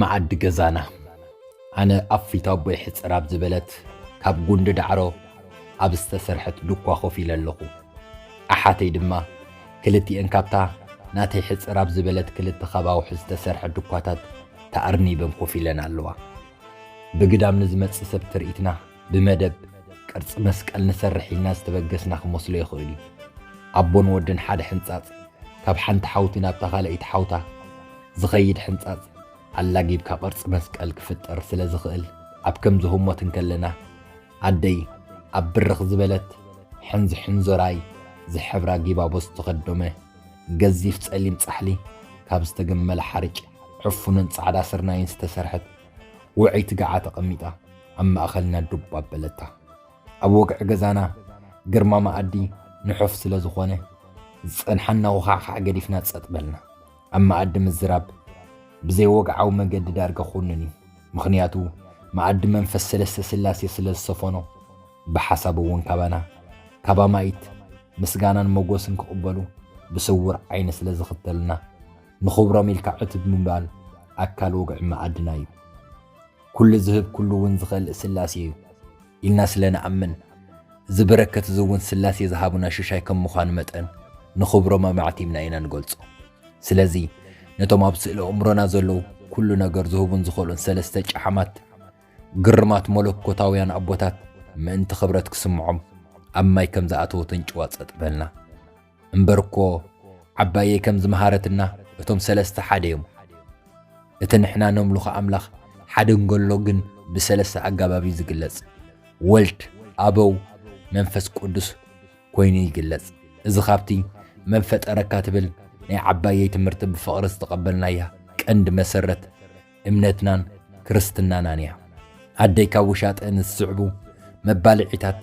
መኣዲ ገዛና ኣነ ኣብ ፊት ኣቦይ ሕጽር ኣብ ዝበለት ካብ ጉንዲ ዳዕሮ ኣብ ዝተሰርሐት ዱኳ ኮፍ ኢለ ኣለኹ። ኣሓተይ ድማ ክልቲኤን ካብታ ናተይ ሕጽር ኣብ ዝበለት ክልተ ካብ ኣውሒ ዝተሰርሐ ዱኳታት ተኣርኒበን ኮፍ ኢለን ኣለዋ። ብግዳም ንዝመጽእ ሰብ ትርኢትና ብመደብ ቅርጺ መስቀል ንሰርሕ ኢልና ዝተበገስና ክመስሎ ይኽእል እዩ። ኣቦን ወድን ሓደ ሕንጻጽ፣ ካብ ሓንቲ ሓውቲ ናብታ ካልኣይቲ ሓውታ ዝኸይድ ሕንጻጽ ኣላጊብካ ቅርጺ መስቀል ክፍጠር ስለ ዝኽእል ኣብ ከምዚ ህሞት እንከለና ኣደይ ኣብ ብርኽ ዝበለት ሕንዝ ሕንዞራይ ዝሕብራ ጊባቦ ዝተኸዶመ ገዚፍ ጸሊም ጻሕሊ ካብ ዝተገመለ ሓርጭ ዕፉንን ጻዕዳ ስርናይን ዝተሰርሐት ውዕይቲ ገዓ ተቐሚጣ ኣብ ማእኸልና ዱብ ኣበለታ። ኣብ ወግዒ ገዛና ግርማ መኣዲ ንሑፍ ስለ ዝኾነ ዝጸንሓና ውኻዕኻዕ ገዲፍና ጸጥ በልና። ኣብ መኣዲ ምዝራብ ብዘይወግዓዊ መገዲ ዳርጋ ኩኑን እዩ። ምኽንያቱ መኣዲ መንፈስ ሰለስተ ስላሴ ስለ ዝሰፈኖ ብሓሳብ እውን ካባና ካብ ኣማኢት ምስጋናን መጎስን ክቕበሉ ብስውር ዓይኒ ስለ ዝኽተሉና ንኽብሮም ኢልካ ዕትብ ምባል ኣካል ወግዒ መኣድና እዩ። ኩሉ ዝህብ ኩሉ እውን ዝኸልእ ስላሴ እዩ ኢልና ስለ ንኣምን፣ እዚ በረከት እዚ እውን ስላሴ ዝሃቡና ሽሻይ ከም ምዃኑ መጠን ንኽብሮም ኣማዕቲብና ኢና ንገልጾ። ስለዚ ነቶም ኣብ ስእለ ኣእምሮና ዘለዉ ኩሉ ነገር ዝህቡን ዝኸልኡን ሰለስተ ጨሓማት ግርማት መለኮታውያን ኣቦታት ምእንቲ ክብረት ክስምዖም ኣብ ማይ ከም ዝኣተወ ተንጭዋ ጸጥ በልና። እምበር እኮ ዓባየይ ከም ዝመሃረትና እቶም ሰለስተ ሓደ እዮም። እቲ ንሕና ነምልኾ ኣምላኽ ሓደ እንገሎ ግን ብሰለስተ ኣጋባብ እዩ ዝግለጽ። ወልድ፣ ኣበው፣ መንፈስ ቅዱስ ኮይኑ ይግለጽ። እዚ ካብቲ መን ፈጠረካ ትብል ናይ ዓባየይ ትምህርቲ ብፍቕሪ ዝተቐበልናያ ቀንዲ መሰረት እምነትናን ክርስትናናን እያ። ኣደይ ካብ ውሻጠን ዝስዕቡ መባልዒታት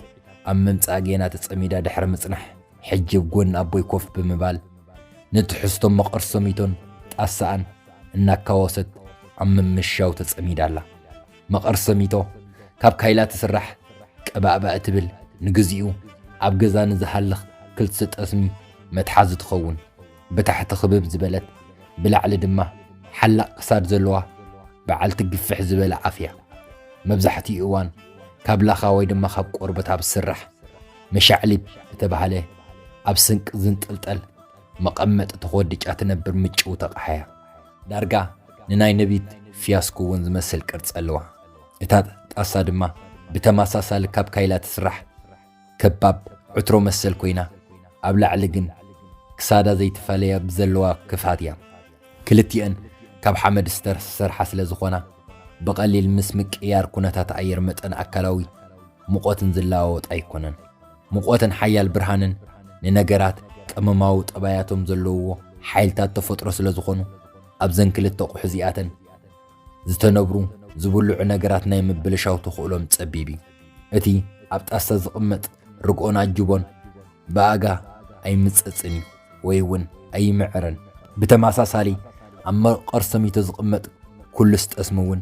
ኣብ ምምጻእ ጌና ተጸሚዳ ድሕሪ ምጽናሕ፣ ሕጂ ኣብ ጎኒ ኣቦይ ኮፍ ብምባል፣ ንትሕዝቶ መቐርሰሚቶን ጣሳኣን እናካወሰት ኣብ ምምሻው ተጸሚዳ ኣላ። መቐርሰሚቶ ካብ ካይላ ትስራሕ፣ ቀባእባእ ትብል፣ ንግዚኡ ኣብ ገዛ ንዝሃልኽ ክልተ ጠስሚ መትሓዚ ትኸውን። ብታሕቲ ክብብ ዝበለት ብላዕሊ ድማ ሓላቕ ክሳድ ዘለዋ በዓልቲ ግፍሕ ዝበለ ኣፍ እያ። መብዛሕትኡ እዋን ካብ ላኻ ወይ ድማ ካብ ቆርበት ኣብ ዝስራሕ መሻዕሊብ እተባህለ ኣብ ስንቂ ዝንጥልጠል መቐመጢ ተኾድጫ ትነብር ምጭው ተቕሓ እያ። ዳርጋ ንናይ ነቢት ፊያስኩ እውን ዝመስል ቅርጺ ኣለዋ። እታ ጣሳ ድማ ብተመሳሳሊ ካብ ካይላ ትስራሕ ከባብ ዕትሮ መሰል ኮይና ኣብ ላዕሊ ግን ክሳዳ ዘይትፈለያ ብዘለዋ ክፍኣት እያ። ክልቲኤን ካብ ሓመድ ዝተሰርሓ ስለ ዝኾና ብቐሊል ምስ ምቅይያር ኩነታት ኣየር መጠን ኣካላዊ ሙቐትን ዝለዋወጣ ኣይኮነን። ሙቐትን ሓያል ብርሃንን ንነገራት ቀመማዊ ጠባያቶም ዘለውዎ ሓይልታት ተፈጥሮ ስለ ዝኾኑ ኣብዘን ክልተ ኣቑሑ እዚኣተን ዝተነብሩ ዝብልዑ ነገራት ናይ ምብልሻው ተኽእሎም ጸቢብ እዩ። እቲ ኣብ ጣሳ ዝቕመጥ ርግኦን ኣጅቦን ብኣጋ ኣይምጸጽን እዩ ወይ እውን ኣይምዕርን። ብተመሳሳሊ ኣብ መቐር ሰሚቶ ዝቕመጥ ኩሉስ ጠስሚ እውን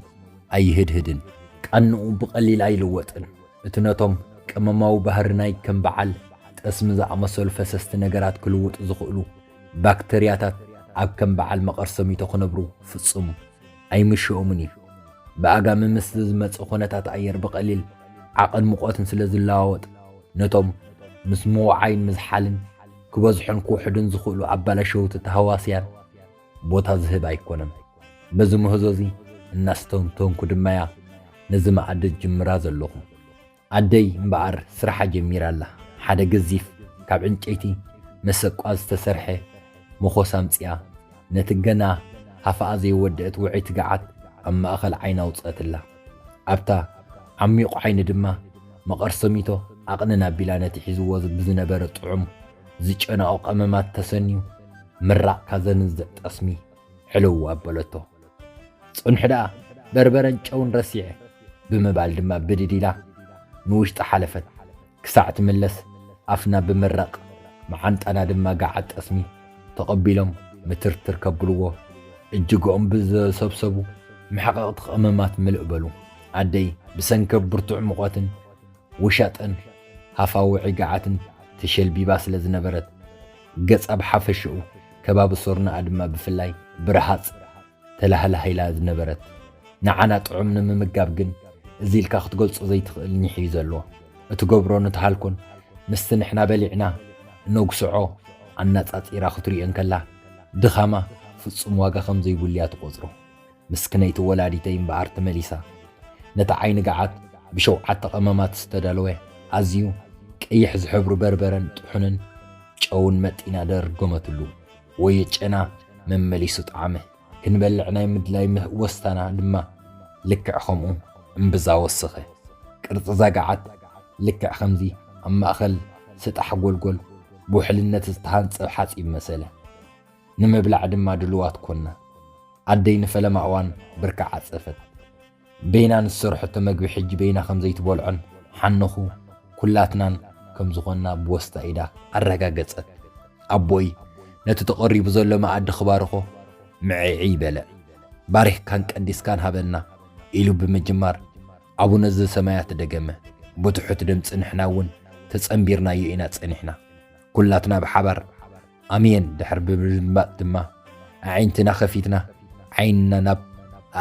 ኣይህድህድን። ቃንኡ ብቐሊል ኣይልወጥን። እቲ ነቶም ቀመማዊ ባህሪ ናይ ከም በዓል ጠስሚ ዝኣመሰሉ ፈሰስቲ ነገራት ክልውጡ ዝኽእሉ ባክተርያታት ኣብ ከም በዓል መቐር ሰሚቶ ክነብሩ ፍጹም ኣይምሸኦምን እዩ። ብኣጋሚ ምስ ዝመጽእ ኹነታት ኣየር ብቐሊል ዓቐን ሙቐትን ስለ ዝለዋወጥ ነቶም ምስ ምውዓይን ምዝሓልን ክበዝሑን ክውሕዱን ዝኽእሉ ኣባላሸውቲ ተሃዋስያን ቦታ ዝህብ ኣይኮነን። በዚ ምህዞ እዚ እናስተንተንኩ ድማ'ያ ነዚ መኣዲ ዝጅምራ ዘለኹ። ኣደይ እምበኣር ስራሓ ጀሚራ ኣላ። ሓደ ገዚፍ ካብ ዕንጨይቲ መሰቋ ዝተሰርሐ መኾስ ኣምጺኣ፣ ነቲ ገና ሃፋኣ ዘይወደአት ውዑይ ትግዓት ኣብ ማእከል ዓይና ኣውጽኣትላ። ኣብታ ዓሚቝ ዓይኒ ድማ መቐርሰሚቶ ኣቕንና ኣቢላ ነቲ ሒዝዎ ብዝነበረ ጥዑም ዝጨናኦ ቀመማት ተሰንዩ ምራቕ ካዘንዝዕ ጠስሚ ዕልው ኣበለቶ። ጽንሑ ደኣ በርበረን ጨውን ረሲዐ ብምባል ድማ ብድድ ኢላ ንውሽጢ ሓለፈት። ክሳዕ ትምለስ ኣፍና ብምራቕ መዓንጣና ድማ ገዓት ጠስሚ ተቐቢሎም ምትርትር ከብልዎ እጅግኦም ብዘሰብሰቡ መሕቐቕቲ ቀመማት ምልእ በሉ። ኣደይ ብሰንከ ብርቱዕ ሙቐትን ውሻጠን ሃፋውዒ ገዓትን ተሸልቢባ ስለ ዝነበረት፣ ገጻ ብሓፈሽኡ፣ ከባቢ ሶርናኣ ድማ ብፍላይ ብረሃጽ ተላሃላህ ኢላ ዝነበረት። ንዓና ጥዑም ንምምጋብ ግን እዚ ኢልካ ክትገልጾ ዘይትኽእል ኒሕ እዩ ዘሎ። እትገብሮ ንትሃልኮን ምስቲ ንሕና በሊዕና እነጉስዖ ኣናጻጺራ ክትሪኦ እንከላ ድኻማ ፍጹም ዋጋ ከም ዘይብሉ እያ ትቆጽሮ። ምስክነይቲ ወላዲተይ እምበኣር ተመሊሳ ነቲ ዓይኒ ገዓት ብሸውዓተ ቀመማት ዝተዳለወ ኣዝዩ ቀይሕ ዝሕብሩ በርበረን ጥሑንን ጨውን መጢና ደርገመትሉ። ወዮ ጨና መመሊሱ ጠዓመ። ክንበልዕ ናይ ምድላይ ምህወስታና ድማ ልክዕ ከምኡ እምብዛ ወሰኸ። ቅርጺ'ዛ ገዓት ልክዕ ከምዚ ኣብ ማእከል ስጣሕ ጎልጎል ብውሕልነት ዝተሃንጸ ሓጺብ መሰለ። ንምብላዕ ድማ ድሉዋት ኰንና። ኣደይ ንፈለማ እዋን ብርኪ ዓጸፈት። በይና ንዝሰርሐቶ መግቢ ሕጂ በይና ከም ዘይትበልዖን ሓነኹ ኵላትናን ከም ዝዀንና ብወስታ ኢዳ ኣረጋገጸት። ኣቦይ ነቲ ተቐሪቡ ዘሎ መኣዲ ክባርኾ ምዕዒ በለ። ባሪኽካን ቀዲስካን ሃበና፣ ኢሉ ብምጅማር ኣቡነ ዘሰማያት ደገመ። ብትሑት ድምጺ ንሕና እውን ተጸንቢርናዮ ኢና ጸኒሕና። ኵላትና ብሓባር። ኣሜን ድሕሪ ብምድማፅ ድማ ኣዒንትና ከፊትና ዓይንና ናብ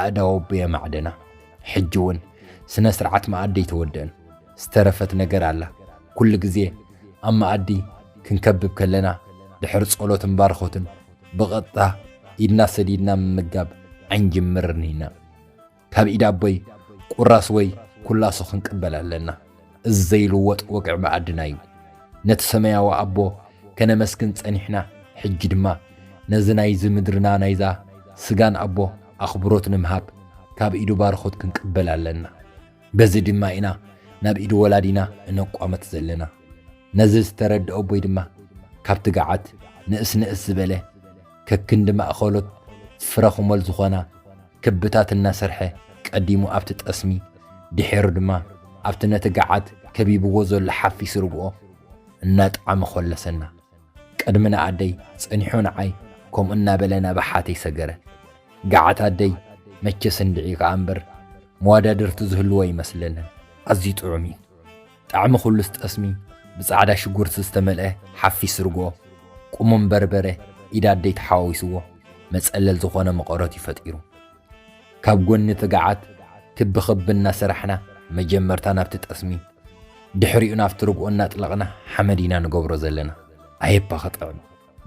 ኣእዳው ኣቦይ ኣማዕደና። ሕጂ እውን ስነ ስርዓት መኣዲ ኣይተወድእን ዝተረፈት ነገር ኣላ። ኩሉ ግዜ ኣብ መኣዲ ክንከብብ ከለና ድሕሪ ጸሎትን ባርኾትን ብቐጥታ ኢድና ሰዲድና ምምጋብ ኣይንጅምርን ኢና። ካብ ኢድ ኣቦይ ቁራስ ወይ ኩላሶ ክንቅበል ኣለና። እዚ ዘይልወጥ ወግዒ መኣድና እዩ። ነቲ ሰማያዊ ኣቦ ከነመስግን ጸኒሕና ሕጂ ድማ ነዚ ናይዚ ምድርና ናይዛ ስጋን ኣቦ ኣኽብሮት ንምሃብ ካብ ኢዱ ባርኾት ክንቅበል ኣለና። በዚ ድማ ኢና ናብ ኢድ ወላዲና እነቋመት ዘለና። ነዚ ዝተረድእ ኣቦይ ድማ ካብ ትግዓት ንእስ ንእስ ዝበለ ከክንዲ ማእኸሎት ፍረ ኹመል ዝኾና ክብታት እናሰርሐ ቀዲሙ ኣብቲ ጠስሚ ድሒሩ ድማ ኣብቲ ነቲ ገዓት ከቢብዎ ዘሎ ሓፊስ ርግኦ እናጠዓመ ኾለሰና። ቅድሚ ንኣደይ ጸኒሑ ንዓይ ከምኡ እናበለ ናብ ኣሓተይ ሰገረ። ገዓት ኣደይ መቸስ እንድዒ ከኣ እምበር መዋዳድርቲ ዝህልዎ ኣይመስለንን። ኣዝዩ ጥዑም እዩ። ጣዕሚ ኩሉስ ጠስሚ ብጻዕዳ ሽጉርቲ ዝተመልኤ ሓፊስ ርግኦ፣ ቁሙም በርበረ፣ ኢድ ኣደይ ተሓዋዊስዎ መጸለል ዝኾነ መቐረት'ዩ ፈጢሩ። ካብ ጎኒ እቲ ገዓት ክቢ ክቢ እናሰራሕና መጀመርታ ናብቲ ጠስሚ ድሕሪኡ ናብቲ ርግኦ እናጥለቕና ሓመድ ኢና ንገብሮ ዘለና። ኣየ'ባ ክጥዕም!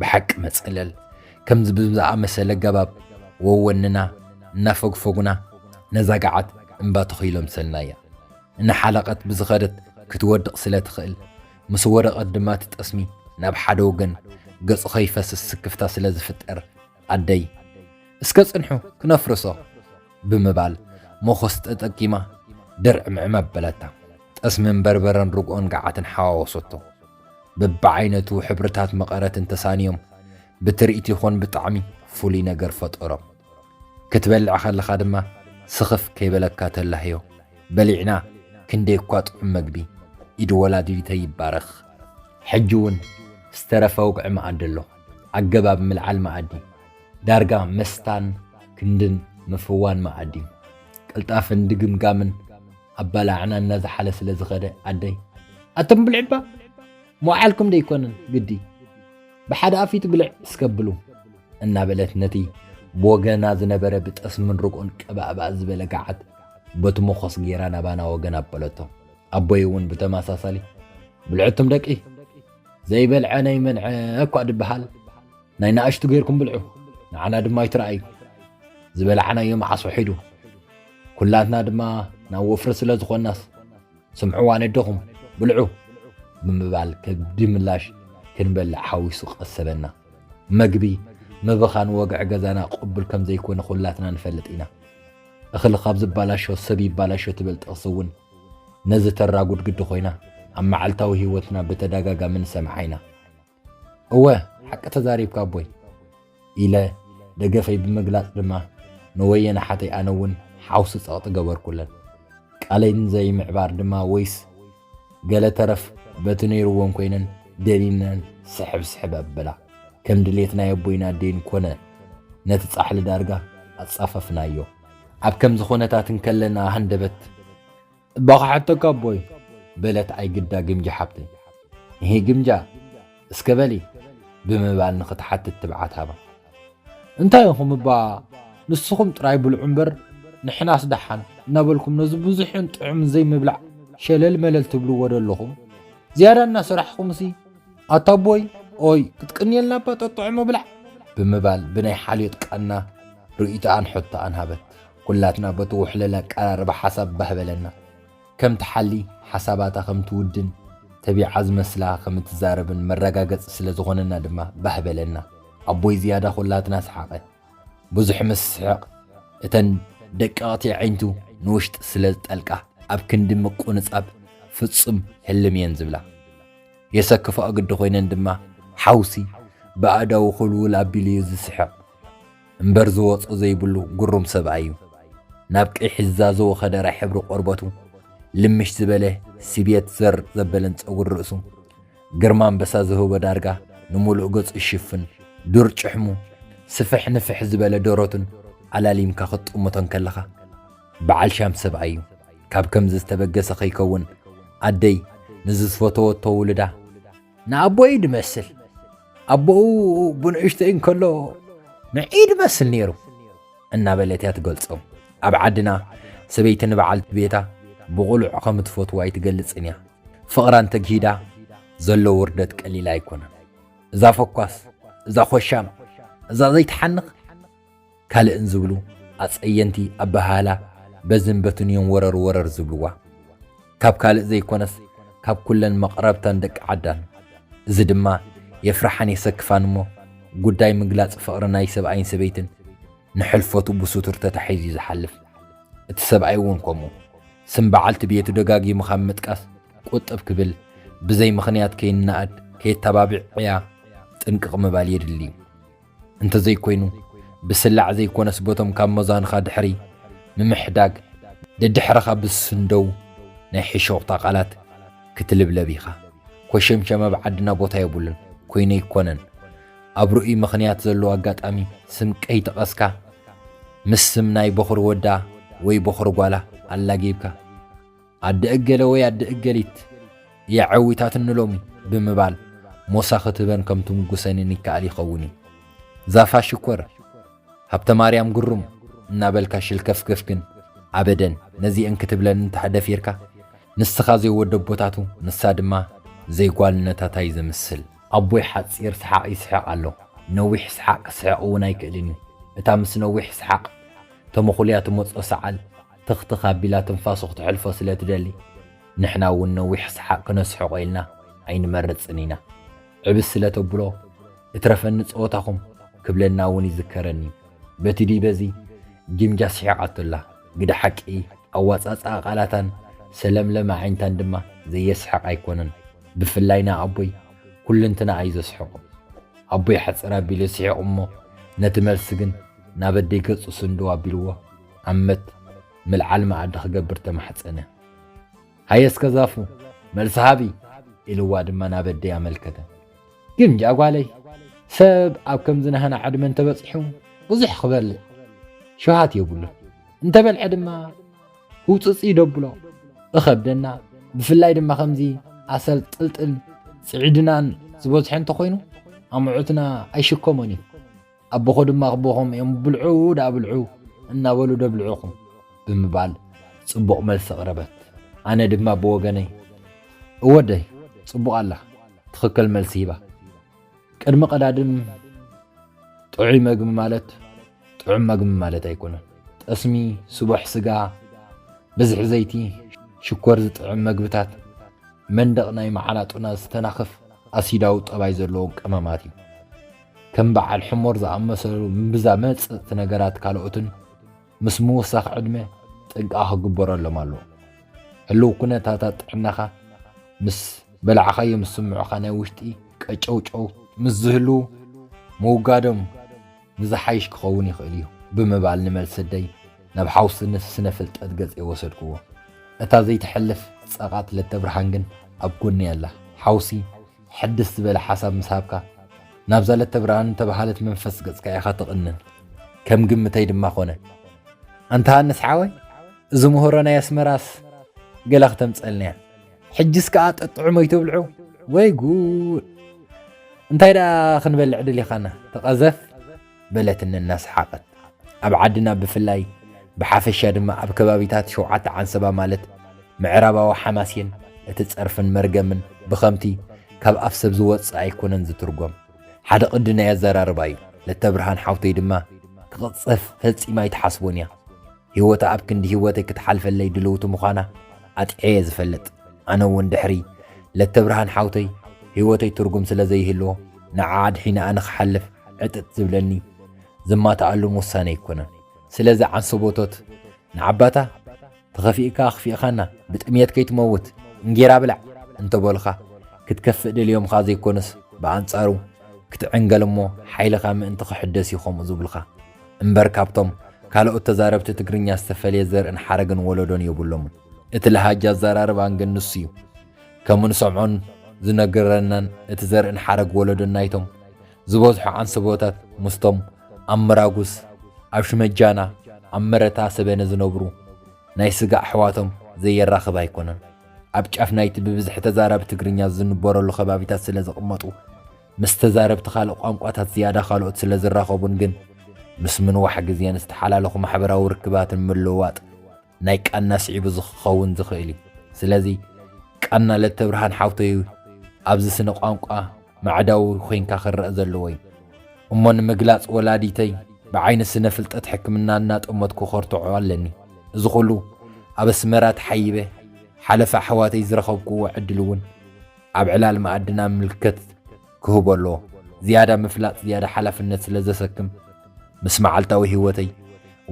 ብሓቂ መጸለል ከምዚ ብዝኣመሰለ ኣገባብ ወወንና እናፈግፈጉና ነዛ ገዓት እምባ ተኺሎምሰልናያ እናሓለቐት ብዝኸደት ክትወድቕ ስለ ትኽእል ምስ ወደቐት ድማ እቲ ጠስሚ ናብ ሓደ ወገን ገጹ ከይፈስስ ስክፍታ ስለ ዝፍጠር ኣደይ እስከ ጽንሑ ክነፍርሶ ብምባል ሞኸስ ተጠቂማ ድርዕምዕም ኣበለታ። ጠስምን በርበረን ርግኦን ገዓትን ሓዋወሶቶ። ብብዓይነቱ ሕብርታት መቐረት እንተሳንዮም ብትርኢት ይኹን ብጣዕሚ ፍሉይ ነገር ፈጠሮም። ክትበልዕ ከለኻ ድማ ስኽፍ ከይበለካ ተላህዮ። በሊዕና ክንደይ እኳ ጥዑም መግቢ! ኢድ ወላዲተይ ይባረኽ። ሕጂ እውን ዝተረፈ ውግዒ መኣዲ ኣሎ። ኣገባብ ምልዓል መኣዲ ዳርጋ መስታን ክንድን ምፍዋን መኣዲ፣ ቅልጣፈን ድግምጋምን፣ ኣባላዕና እናዝሓለ ስለ ዝኸደ ኣደይ ኣቶም ብልዕባ ሞዓልኩም ደይኮነን ግዲ ብሓደ ኣፊት ብልዕ እስከብሉ እናበለት ነቲ ብወገና ዝነበረ ብጠስምን ርግኦን ቀባእባእ ዝበለ ገዓት በቲ መኾስ ገይራ ናባና ወገን ኣበለቶ ኣቦይ እውን ብተመሳሳሊ ብልዕቱም ደቂ ዘይበልዐ ናይ መንዐ እኳ ድበሃል ናይ ንኣሽቱ ገይርኩም ብልዑ ንዓና ድማ ኣይትረኣዩ ዝበላዕናዮ መዓስ ውሒዱ ኩላትና ድማ ናብ ወፍሪ ስለ ዝኾናስ ስምዕዋ ነደኹም ብልዑ ብምባል ከብዲ ምላሽ ክንበልዕ ሓዊሱ ቀሰበና። መግቢ ምብኻን ወግዒ ገዛና ቅቡል ከም ዘይኮነ ኩላትና ንፈልጥ ኢና። እኽሊ ካብ ዝባላሾ ሰብ ይባላሾ ትብል ጥቕሲ እውን ነዚ ተራጉድ ግዲ ኮይና ኣብ መዓልታዊ ህይወትና ብተደጋጋሚ ንሰምዓ ኢና። እወ ሓቂ ተዛሪብካ ኣቦይ ኢለ ደገፈይ ብምግላጽ ድማ ንወየን ሓተይ ኣነ እውን ሓውሲ ጸቕጢ ገበርኩለን። ቃለይ ንዘይምዕባር ድማ ወይስ ገለ ተረፍ በቲ ነይርዎን ኮይነን ደኒነን ስሕብ ስሕብ ኣበላ። ከም ድሌት ናይ ኣቦይን ኣደይን ኮነ ነቲ ጻሕሊ ዳርጋ ኣጻፈፍናዮ። ኣብ ከምዚ ኩነታት እንከለና ሃንደበት እባ ክሓተካ ኣቦይ በለት ኣይግዳ ግምጃ ሓብተይ። እሂ ግምጃ እስከ በሊ ብምባል ንኽትሓትት ትብዓት ሃባ። እንታይ ኢኹም እባ ንስኹም ጥራይ ብልዑ እምበር ንሕናስ ደሓን እናበልኩም ነዚ ብዙሕን ጥዑምን ዘይምብላዕ ሸለል መለል ትብልዎ ዶ ኣለኹም? ዝያዳ እናሰራሕኹምሲ ኣታ ኣቦይ ኦይ ክትቅንየልና እባ ጠጥዑ ምብላዕ ብምባል ብናይ ሓልዮት ቃና ርእይቶኣን ሕቶኣን ሃበት። ኩላትና በቲ ውሕለል ኣቀራርባ ሓሳብ ባህ በለና። ከም ትሓሊ፣ ሓሳባታ ከም ትውድን፣ ተቢዓ ዝመስላ ከም እትዛረብን መረጋገጺ ስለ ዝኾነና ድማ ባህ በለና። ኣቦይ ዝያዳ ኩላትና ሰሓቐ። ብዙሕ ምስ ስሕቕ እተን ደቀቕቲ ኣዒንቱ ንውሽጢ ስለ ዝጠልቃ ኣብ ክንዲ ምቁንጻብ ፍጹም ህልም እየን ዝብላ። የሰክፋኦ ግዲ ኮይነን ድማ ሓውሲ ብኣእዳዉ ኩልውል ኣቢሉ እዩ ዝስሕቕ። እምበር ዝወጾ ዘይብሉ ግሩም ሰብኣይ እዩ። ናብ ቀይሕ ዝዛዘወ ከደራይ ሕብሪ ቆርበቱ፣ ልምሽ ዝበለ ስብየት ዘር ዘበለን ጸጉሪ ርእሱ፣ ግርማ ኣንበሳ ዝህቦ ዳርጋ ንምሉእ ገጹ ዝሽፍን ዱር ጭሕሙ፣ ስፍሕ ንፍሕ ዝበለ ደረቱን ኣላሊምካ ክትጥምቶ እንከለኻ በዓል ሻም ሰብኣይ እዩ። ካብ ከምዚ ዝተበገሰ ከይከውን ኣደይ ንዝዝፈተወቶ ውሉዳ፣ ንኣቦይ ድመስል ኣቦኡ ብንእሽተይ እንከሎ ንዒ ድመስል ነይሩ እናበለት እያ ትገልጾ። ኣብ ዓድና ሰበይቲ ንበዓልቲ ቤታ ብቑሉዕ ከም እትፈትዎ ኣይትገልጽን እያ። ፍቕራ እንተግሂዳ ዘሎ ውርደት ቀሊል ኣይኮነን። እዛ ፈኳስ፣ እዛ ኾሻም፣ እዛ ዘይትሓንኽ ካልእን ዝብሉ ኣጸየንቲ ኣበሃህላ በዝን በትን እዮም ወረር ወረር ዝብልዋ። ካብ ካልእ ዘይኮነስ ካብ ኩለን መቕረብታን ደቂ ዓዳን። እዚ ድማ የፍርሓን የሰክፋን እሞ ጉዳይ ምግላጽ ፍቕሪ ናይ ሰብኣይን ሰበይትን ንሕልፈቱ ብሱቱር ተታሒዙ እዩ ዝሓልፍ። እቲ ሰብኣይ እውን ከምኡ። ስም በዓልቲ ቤቱ ደጋጊሙ ካብ ምጥቃስ ቁጥብ ክብል ብዘይ ምኽንያት ከይነኣድ ከየተባብዕ ዕያ ጥንቅቕ ምባል የድሊ። እንተዘይኮይኑ ብስላዕ ዘይኮነስ በቶም ካብ መዛንኻ ድሕሪ ምምሕዳግ ደድሕረኻ ብዝስንደዉ ናይ ሕሾኽታ ቃላት ክትልብለብ ኢኻ። ኮሸምሸም ኣብ ዓድና ቦታ የብሉን ኮይኑ ኣይኮነን ኣብ ርኡይ ምኽንያት ዘለዎ ኣጋጣሚ ስም ቀይጠቐስካ ምስ ስም ናይ በኹሪ ወዳ ወይ በኹሪ ጓላ ኣላጊብካ ኣደ እገለ ወይ ኣደ እገሊት እያ ዐዊታትኒ ሎሚ ብምባል ሞሳ ክትህበን ከም ትምጉሰንን ይከኣል ይኸውን እዩ። ዛፋ ሽኮር፣ ሃብተማርያም ግሩም እናበልካ ሽልከፍገፍ ግን ኣበደን ነዚኤን ክትብለን እንተ ደፊርካ ንስኻ ዘይወደቦታቱ ንሳ ድማ ዘይጓልነታታይ ዘምስል። ኣቦይ ሓጺር ስሓቕ ይስሕቕ ኣሎ፣ ነዊሕ ስሓቕ ክስሕቕ እውን ኣይክእልን እዩ፣ እታ ምስ ነዊሕ ስሓቕ ተመኹልያ ትመጾ ሰዓል፣ ትኽትኽ ኣቢላ ትንፋሱ ክትሐልፎ ስለ ትደሊ፣ ንሕና እውን ነዊሕ ሰሓቕ ክነስሕቖ ኢልና ኣይንመርጽን ኢና። ዕብስ ስለ ተብሎ፣ እትረፈኒ ጸወታኹም ክብለና እውን ይዝከረኒ እዩ። በቲ ድዩ በዚ ጊምጃ ስሒቓቶ ኣላ። ግደ ሓቂ፣ ኣወጻጽኣ ቃላታን ሰለምለም ኣዒንታን ድማ ዘየስሕቕ ኣይኮነን። ብፍላይ ንኣቦይ ኩልንትናኣ እዩ ዘስሕቖ። ኣቦይ ሕጽር ኣቢሉ ስሒቑ እሞ ነቲ መልሲ ግን ናብ ኣደይ ገጹ ስንድው ኣቢልዎ፣ ዓመት ምልዓል መኣዲ ክገብር ተማሕጸነ። ሃየ እስከ ዛፉ መልሲ ሃቢ ኢልዋ ድማ ናብ ኣደይ ኣመልከተ። ግምጃ ጓለይ ሰብ ኣብ ከምዚ ናህና ዕድመ እንተበጺሑ ብዙሕ ክበልዕ ሸውሃት የብሉን እንተበልዐ ድማ ህውፅፅ ይደብሎ እኸብደና ብፍላይ ድማ ከምዚ ኣሰል ጥልጥል ፅዒድናን ዝበዝሖ እንተኮይኑ ኣምዑትና ኣይሽከሞን እዩ ኣቦኾ ድማ ኣቦኾም እዮም ብልዑ ደኣ ብልዑ እናበሉ ደብልዑኹም ብምባል ጽቡቕ መልሲ ኣቕረበት። ኣነ ድማ ብወገነይ እወደይ ጽቡቕ ኣላ ትኽክል መልሲ ሂባ። ቅድሚ ቀዳድም ጥዑይ መግቢ ማለት ጥዑም መግቢ ማለት ኣይኮነን። ጠስሚ፣ ስቡሕ ስጋ፣ ብዝሒ ዘይቲ፣ ሽኮር ዝጥዕም መግብታት መንደቕ ናይ መዓላጡና ዝተናኽፍ ኣሲዳዊ ጠባይ ዘለዎም ቀመማት እዩ። ከም በዓል ሕሞር ዝኣመሰሉ ምብዛ መጽጽቲ ነገራት ካልኦትን ምስ ምውሳኽ ዕድመ ጥንቃ ክግበረሎም ኣለዎ። ህልው ኩነታታት ጥዕናኻ ምስ በላዕኻዮም ዝስምዑኻ ናይ ውሽጢ ቀጨውጨው ምስ ዝህልዉ ምውጋዶም ንዝሓይሽ ክኸውን ይኽእል እዩ ብምባል ንመልሰደይ ናብ ሓውሲ ስነ ፍልጠት ገጸይ ወሰድክዎ። እታ ዘይትሐልፍ ጸቓጥ ለተብርሃን ግን ኣብ ጎነይ ኣላ። ሓውሲ ሕድስ ዝበለ ሓሳብ ምስ ሃብካ፣ ናብዛ ለተብርሃን እተበሃለት መንፈስ ገጽካ ኢኻ ትቕንን። ከም ግምተይ ድማ ኮነ። ኣንታ ሃንስ ሓወይ፣ እዚ ምሁሮ ናይ ኣስመራስ ገለ ክተምጸልንያ። ሕጅስ ከኣ ጠጥዑ መይቶብልዑ ወይ ጉድ እንታይ ደኣ ክንበልዕ ድሊኻና ተቐዘፍ። በለትኒ እናሰሓቐት። ኣብ ዓድና ብፍላይ ብሓፈሻ ድማ ኣብ ከባቢታት ሸውዓተ ዓንሰባ ማለት ምዕራባዊ ሓማሴን እቲ ጸርፍን መርገምን ብኸምቲ ካብ ኣፍ ሰብ ዝወጽእ ኣይኮነን ዝትርጎም። ሓደ ቅዲ ናይ ኣዘራርባ እዩ። ለተብርሃን ሓውተይ ድማ ክቕጸፍ ፈጺማ ኣይትሓስቦን እያ። ህይወታ ኣብ ክንዲ ህይወተይ ክትሓልፈለይ ድልውቲ ምዃና ኣጥዔየ ዝፈልጥ። ኣነ እውን ድሕሪ ለተብርሃን ሓውተይ ህይወተይ ትርጉም ስለ ዘይህልዎ ንዓዓ ኣድሒነኣ ንክሓልፍ ዕጥጥ ዝብለኒ ዝማትኣሉን ውሳነ ኣይኮነን። ስለዚ ዓንሰቦቶት ንዓባታ ተኸፊእካ ኣኽፊእኻና ብጥምየት ከይትመውት እንጌራ ብላዕ እንተበሉኻ ክትከፍእ ደልዮምኻ ዘይኮኑስ ብኣንጻሩ ክትዕንገል እሞ ሓይልኻ ምእንቲ ክሕደስ እዩ ከምኡ ዝብሉኻ። እምበር ካብቶም ካልኦት ተዛረብቲ ትግርኛ ዝተፈልየ ዘርእን ሓረግን ወለዶን የብሎምን። እቲ ለሃጃ ኣዘራርባን ግን ንሱ'ዩ። ከም እንሰምዖን ዝነገረናን እቲ ዘርእን ሓረግ ወለዶን ናይቶም ዝበዝሑ ዓንሰቦታት ምስቶም ኣብ ምራጉስ፣ ኣብ ሽመጃና፣ ኣብ መረታ ሰበነ ዝነብሩ ናይ ስጋ ኣሕዋቶም ዘየራኽብ ኣይኮነን። ኣብ ጫፍ ናይቲ ብብዝሒ ተዛራቢ ትግርኛ ዝንበረሉ ከባቢታት ስለ ዝቕመጡ፣ ምስ ተዛረብቲ ካልእ ቋንቋታት ዝያዳ ካልኦት ስለ ዝራኸቡን ግን ምስ ምንዋሕ ግዜን ዝተሓላለኹ ማሕበራዊ ርክባትን ምልውዋጥ ናይ ቃና ስዒቡ ዝክኸውን ዝኽእል እዩ። ስለዚ ቃና ለተብርሃን ሓውተይ ኣብዚ ስነ ቋንቋ ማዕዳዊ ኮይንካ ክረኣ ዘለዎ እዩ። እሞ ንምግላጽ ወላዲተይ ብዓይኒ ስነ ፍልጠት ሕክምና እናጠመትኩ ከርትዖ ኣለኒ። እዚ ኩሉ ኣብ ኣስመራ ተሓይበ ሓለፋ ኣሕዋተይ ዝረኸብኩዎ ዕድል እውን ኣብ ዕላል መኣድና ምልከት ክህቦ ኣለዎ። ዝያዳ ምፍላጥ ዝያዳ ሓላፍነት ስለ ዘሰክም ምስ መዓልታዊ ህይወተይ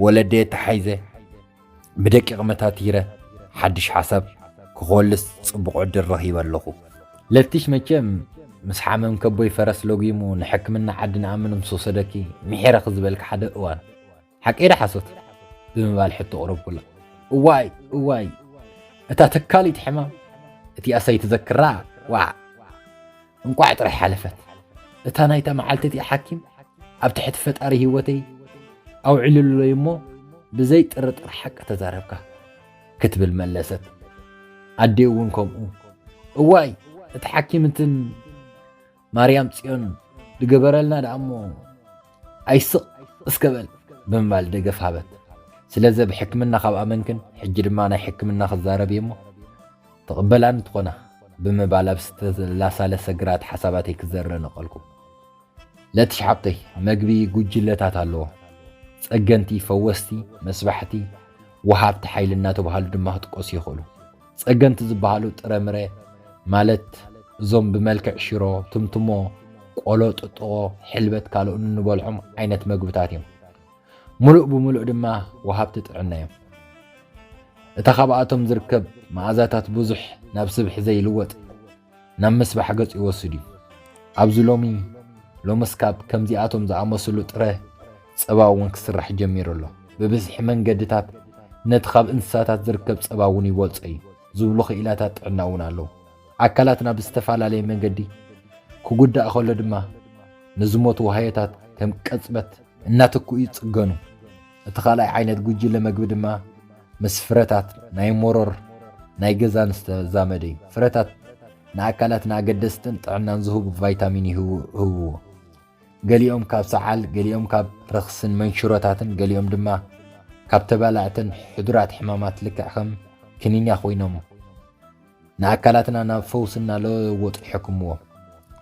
ወለደየ ተሓይዘ ብደቂቕ መታቲረ ሓድሽ ሓሳብ ክኾልስ ጽቡቕ ዕድል ረኺበ ኣለኹ። ለቲሽ መቸም ምስ ሓመም ከቦይ ፈረስ ለጒሙ ንሕክምና ዓዲ ንኣምን ምስ ወሰደኪ ምሒረኺ ዝበልኪ ሓደ እዋን፣ ሓቂ ዶ ሓሶት? ብምባል ሕቶ ኣቕረብኩላ። እዋይ! እዋይ! እታ ተካሊት ሕማም እቲኣስ ኣይትዘክራ፣ ዋእ! እንቋዕ ጥራይ ሓለፈት። እታ ናይታ መዓልቲ እቲኣ ሓኪም ኣብ ትሕቲ ፈጣሪ ህይወተይ ኣውዒሉለይ እሞ ብዘይ ጥርጥር ሓቂ ተዛረብካ ክትብል መለሰት። ኣዴ እውን ከምኡ እዋይ እቲ ሓኪምትን ማርያም ጽዮን ድገበረልና ደኣሞ ኣይስቕ እስከ በል ብምባል ደገፍ ሃበት። ስለዚ ብ ሕክምና ካብ ኣመንክን ሕጂ ድማ ናይ ሕክምና ክዛረብ እየ እሞ ትቕበላኒ ትኾና ብምባል ኣብ ዝተላሳለሰ ግራት ሓሳባተይ ክዘረ ነቐልኩ። ለትሽዓብተይ መግቢ ጉጅለታት ኣለዎ። ጸገንቲ፣ ፈወስቲ፣ መስባሕቲ፣ ወሃብቲ ሓይሊ እናተባህሉ ድማ ክጥቀሱ ይኽእሉ። ጸገንቲ ዝበሃሉ ጥረምረ ማለት እዞም ብመልክዕ ሽሮ፣ ትምትሞ፣ ቆሎ፣ ጥጥቖ፣ ሕልበት ካልኦን እንበልዖም ዓይነት መግብታት እዮም። ምሉእ ብምሉእ ድማ ወሃብቲ ጥዕና እዮም። እታ ካብኣቶም ዝርከብ መኣዛታት ብዙሕ ናብ ስብሒ ዘይልወጥ ናብ ምስባሕ ገጹ ይወስድ እዩ። ኣብዚ ሎሚ ሎምስ ካብ ከምዚኣቶም ዝኣመስሉ ጥረ ጸባ እውን ክስራሕ ጀሚሩ ኣሎ። ብብዝሒ መንገድታት ነቲ ካብ እንስሳታት ዝርከብ ጸባ እውን ይበልጾ እዩ ዝብሉ ክኢላታት ጥዕና እውን ኣለዉ። ኣካላትና ብዝተፈላለየ መንገዲ ክጉዳእ ከሎ ድማ ንዝሞቱ ዋህዮታት ከም ቅጽበት እናተክኡ ይጽገኑ። እቲ ካልኣይ ዓይነት ጉጅለ መግቢ ድማ ምስ ፍረታት ናይ ሞሮር ናይ ገዛን ዝተዛመደ እዩ። ፍረታት ንኣካላትና ኣገደስትን ጥዕናን ዝህቡ ቫይታሚን ይህብዎ። ገሊኦም ካብ ሰዓል፣ ገሊኦም ካብ ረኽስን መንሽሮታትን፣ ገሊኦም ድማ ካብ ተባላዕትን ሕዱራት ሕማማት ልክዕ ከም ክኒኛ ኮይኖም ንኣካላትና ናብ ፈውሲ እናለወጡ ይሕክምዎ።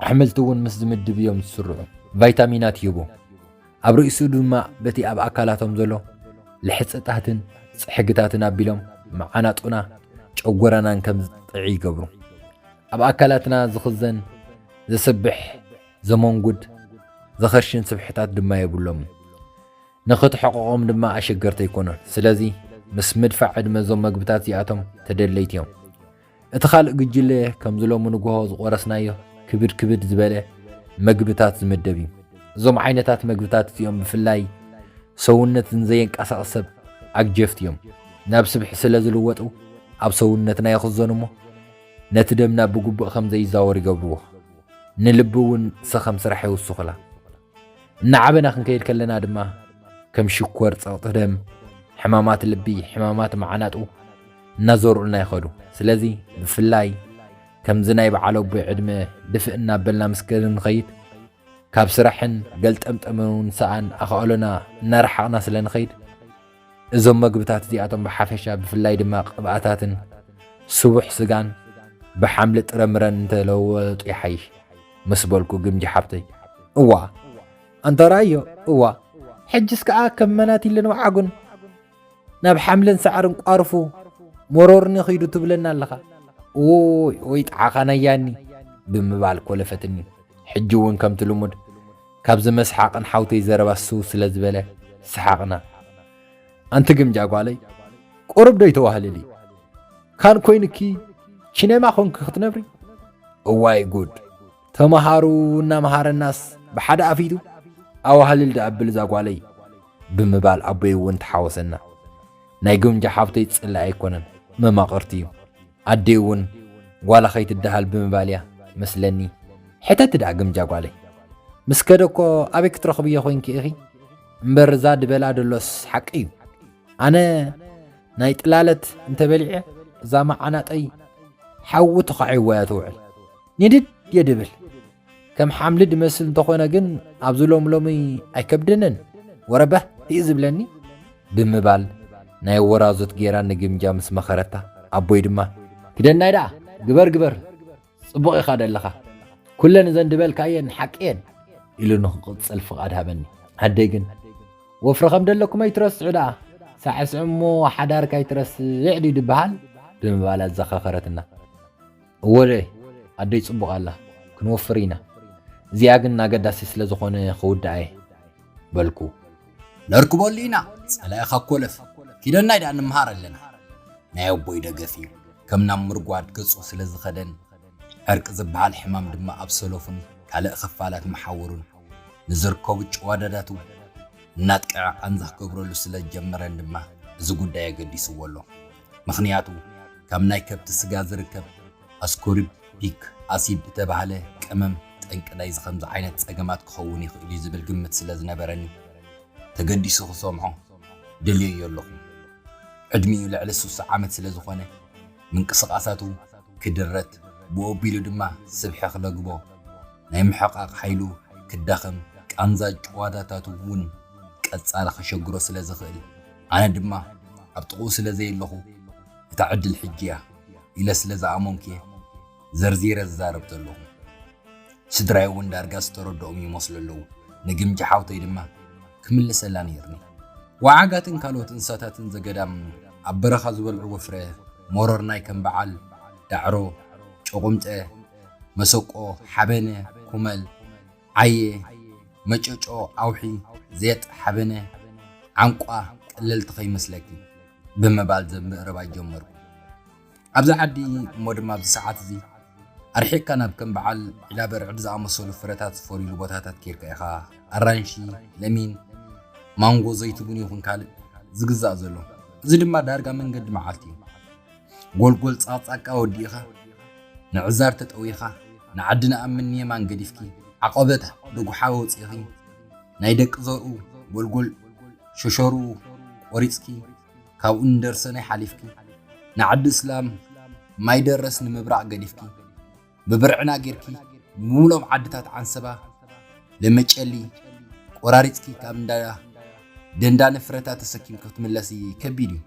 ኣሕምልቲ እውን ምስ ዝምድብ እዮም ዝስርዑ። ቫይታሚናት ይህቡ። ኣብ ርእሱ ድማ በቲ ኣብ ኣካላቶም ዘሎ ልሕፅታትን ፅሕግታትን ኣቢሎም መዓናጡና ጨጎራናን ከም ዝጥዕ ይገብሩ። ኣብ ኣካላትና ዝኽዘን ዘስብሕ ዘመንጉድ ዘኸርሽን ስብሕታት ድማ የብሎምን። ንኽትሕቕቖም ድማ ኣሸገርቲ ኣይኮኑን። ስለዚ ምስ ምድፋእ ዕድመ እዞም መግብታት እዚኣቶም ተደለይቲ እዮም። እቲ ካልእ ጉጅለ ከምዚ ሎሚ ንግሆ ዝቖረስናዮ ክብድ ክብድ ዝበለ መግብታት ዝምደብ እዩ። እዞም ዓይነታት መግብታት እዚኦም ብፍላይ ሰውነት ንዘየንቀሳቕስ ሰብ ኣግጀፍቲ እዮም። ናብ ስብሒ ስለ ዝልወጡ ኣብ ሰውነትና ይኽዘኑ እሞ ነቲ ደምና ብግቡእ ከም ዘይዛወር ይገብርዎ። ንልቢ እውን ሰኸም ስራሕ የውስኹላ። እናዓበና ክንከይድ ከለና ድማ ከም ሽኮር፣ ጸቕጢ ደም፣ ሕማማት ልቢ፣ ሕማማት መዓናጡ እናዞሩልና ይኸዱ። ስለዚ ብፍላይ ከምዚ ናይ በዓል ኣቦይ ዕድመ ድፍእ እናበልና ምስ ክንኸይድ ካብ ስራሕን ገልጠምጠምን እውን ሰኣን ኣኻእሎና እናረሓቕና ስለ ንኸይድ እዞም መግብታት እዚኣቶም ብሓፈሻ ብፍላይ ድማ ቅብኣታትን ስቡሕ ስጋን ብሓምሊ ጥረምረን እንተለወጡ ይሓይሽ ምስ በልኩ ግምጂ ሓብተይ እዋ ኣንታ ራዮ እዋ ሕጅስ ከኣ ከም መናቲልን ወዓጉን ናብ ሓምልን ሳዕርን ቋርፉ መሮርኒ ኺዱ ትብለና ኣለኻ ኦይ ኦይ ጣዓኻ ናያኒ ብምባል ኮለፈትኒ ሕጂ እውን ከምቲ ልሙድ ካብዚ መስሓቕን ሓውተይ ዘረባ ስው ስለ ዝበለ ሰሓቕና። ኣንቲ ግምጃ ጓለይ ቁሩብ ዶ ይተዋህልሊ ካን ኮይንኪ ቺነማ ኮንኪ ክትነብሪ እዋይ ጉድ ተማሃሩ እናመሃረናስ ብሓደ ኣፊቱ ኣዋህልል ድኣብል እዛ ጓለይ ብምባል ኣቦይ እውን ተሓወሰና ናይ ግምጃ ሓብተይ ፅላኢ ኣይኮነን መማቕርቲ እዩ ኣዴ'ውን ጓላ ከይትደሃል ብምባል'ያ መስለኒ። ሕተቲ ደኣ ግምጃ ጓለይ። ምስ ከደ'ኮ ኣበይ ክትረኽብዮ ኮይንኪ ኢኺ? እምበር እዛ ድበላ ደሎስ ሓቂ'ዩ። ኣነ ናይ ጥላለት እንተ በሊዐ እዛ መዓናጠይ ሓዊ ተዃዒዋ'ያ ትውዕል። ኒድድየ ድብል። ከም ሓምሊ ድመስል እንተኾነ ግን ኣብዚ ሎም ሎሚ ኣይከብደንን ወረበህ እዩ ዝብለኒ ብምባል ናይ ወራዙት ጌራ ንግምጃ ምስ መኸረታ ኣቦይ ድማ ክደናይ ደኣ ግበር ግበር ጽቡቕ ኢኻ ደለኻ ኩለን እዘን ድበልካየን ሓቂ እየን ኢሉ ንክቕጽል ፍቓድ ሃበኒ ኣደይ ግን ወፍሪ ከም ደለኩም ኣይትረስዑ ደኣ ሳዕስዑ እሞ ሓዳርካ ኣይትረስዕ ድዩ ድበሃል ብምባል ኣዘኻኸረትና እወለ ኣደይ ጽቡቕ ኣላ ክንወፍር ኢና እዚኣ ግን ኣገዳሲ ስለ ዝኾነ ክውድኣ እየ በልኩ። ነርክበሉ ኢና ጸላኢ ካብ ኮለፍ ኪደናይ ደኣ ንመሃር ኣለና። ናይ ኣቦይ ደገፍ እዩ ከም ናብ ምርጓድ ገጹ ስለ ዝኸደን ዕርቂ ዝበሃል ሕማም ድማ ኣብ ሰሎፍን ካልእ ክፋላት መሓውሩን ንዝርከቡ ጭዋዳዳቱ እናጥቀዐ ቃንዛ ክገብረሉ ስለ ዝጀመረን ድማ እዚ ጉዳይ ኣገዲስዎ ኣሎ። ምኽንያቱ ካብ ናይ ከብቲ ስጋ ዝርከብ ኣስኮርቢክ ኣሲድ እተባህለ ቀመም ጠንቂ ናይዚ ከምዚ ዓይነት ጸገማት ክኸውን ይኽእል'ዩ ዝብል ግምት ስለ ዝነበረኒ ተገዲሱ ክሰምዖ ደልየዮ ኣለኹ። ዕድሚኡ ልዕሊ ስሳ ዓመት ስለ ዝኾነ ምንቅስቓሳቱ ክድረት ብኡኣቢሉ ድማ ስብሒ ክለግቦ ናይ ምሕቓቕ ሓይሉ ክዳኸም ቃንዛ ጭዋዳታቱ እውን ቀጻሊ ከሸግሮ ስለ ዝኽእል፣ ኣነ ድማ ኣብ ጥቕኡ ስለ ዘየለኹ እታ ዕድል ሕጂ'ያ ኢለ ስለ ዝኣመንኩ'የ ዘርዚረ ዝዛረብ ዘለኹ። ስድራይ'ውን ዳርጋ ዝተረድኦም ይመስሉ ኣለዉ። ንግምጃ ሓውተይ ድማ ክምልሰላ ነይሩኒ። ወዓጋትን ካልኦት እንስሳታትን ዘገዳም ኣብ በረኻ ዝበልዕዎ ፍረ ሞሮርናይ ከም በዓል ዳዕሮ፣ ጮቑምጠ፣ መሰቆ፣ ሓበነ፣ ኩመል፣ ዓየ መጨጮ ኣውሒ ዜጥ ሓበነ ዓንቋ ቀለልቲ ከይመስለኪ ብምባል ዘብ ምእረባይ ጀመርኩ። ኣብዚ ዓዲ እሞ ድማ ኣብዚ ሰዓት እዚ ኣርሒቕካ ናብ ከም በዓል ዒላበርዕድ ዝኣመሰሉ ፍረታት ዝፈርዩሉ ቦታታት ኬድካ ኢኻ ኣራንሺ፣ ለሚን፣ ማንጎ፣ ዘይትቡን ይኹን ካልእ ዝግዛእ ዘሎ። እዚ ድማ ዳርጋ መንገዲ መዓልቲ እዩ። ጎልጎል ጻቅጻቃ ወዲእኻ ንዕዛር ተጠዊኻ ንዓዲ ንኣምን ንየማን ገዲፍኪ ዓቐበት ደጉሓ ወጺእኺ ናይ ደቂ ዘርኡ ጎልጎል ሸሸርኡ ቆሪጽኪ ካብኡ ንደርሰናይ ሓሊፍኪ ንዓዲ እስላም ማይ ደረስ ንምብራቕ ገዲፍኪ ብብርዕና ጌርኪ ንብሙሉኦም ዓድታት ዓንሰባ ለመጨሊ ቆራሪጽኪ ካብ እንዳ ደንዳነ ፍረታት ተሰኪምኪ ክትምለሲ ከቢድ እዩ።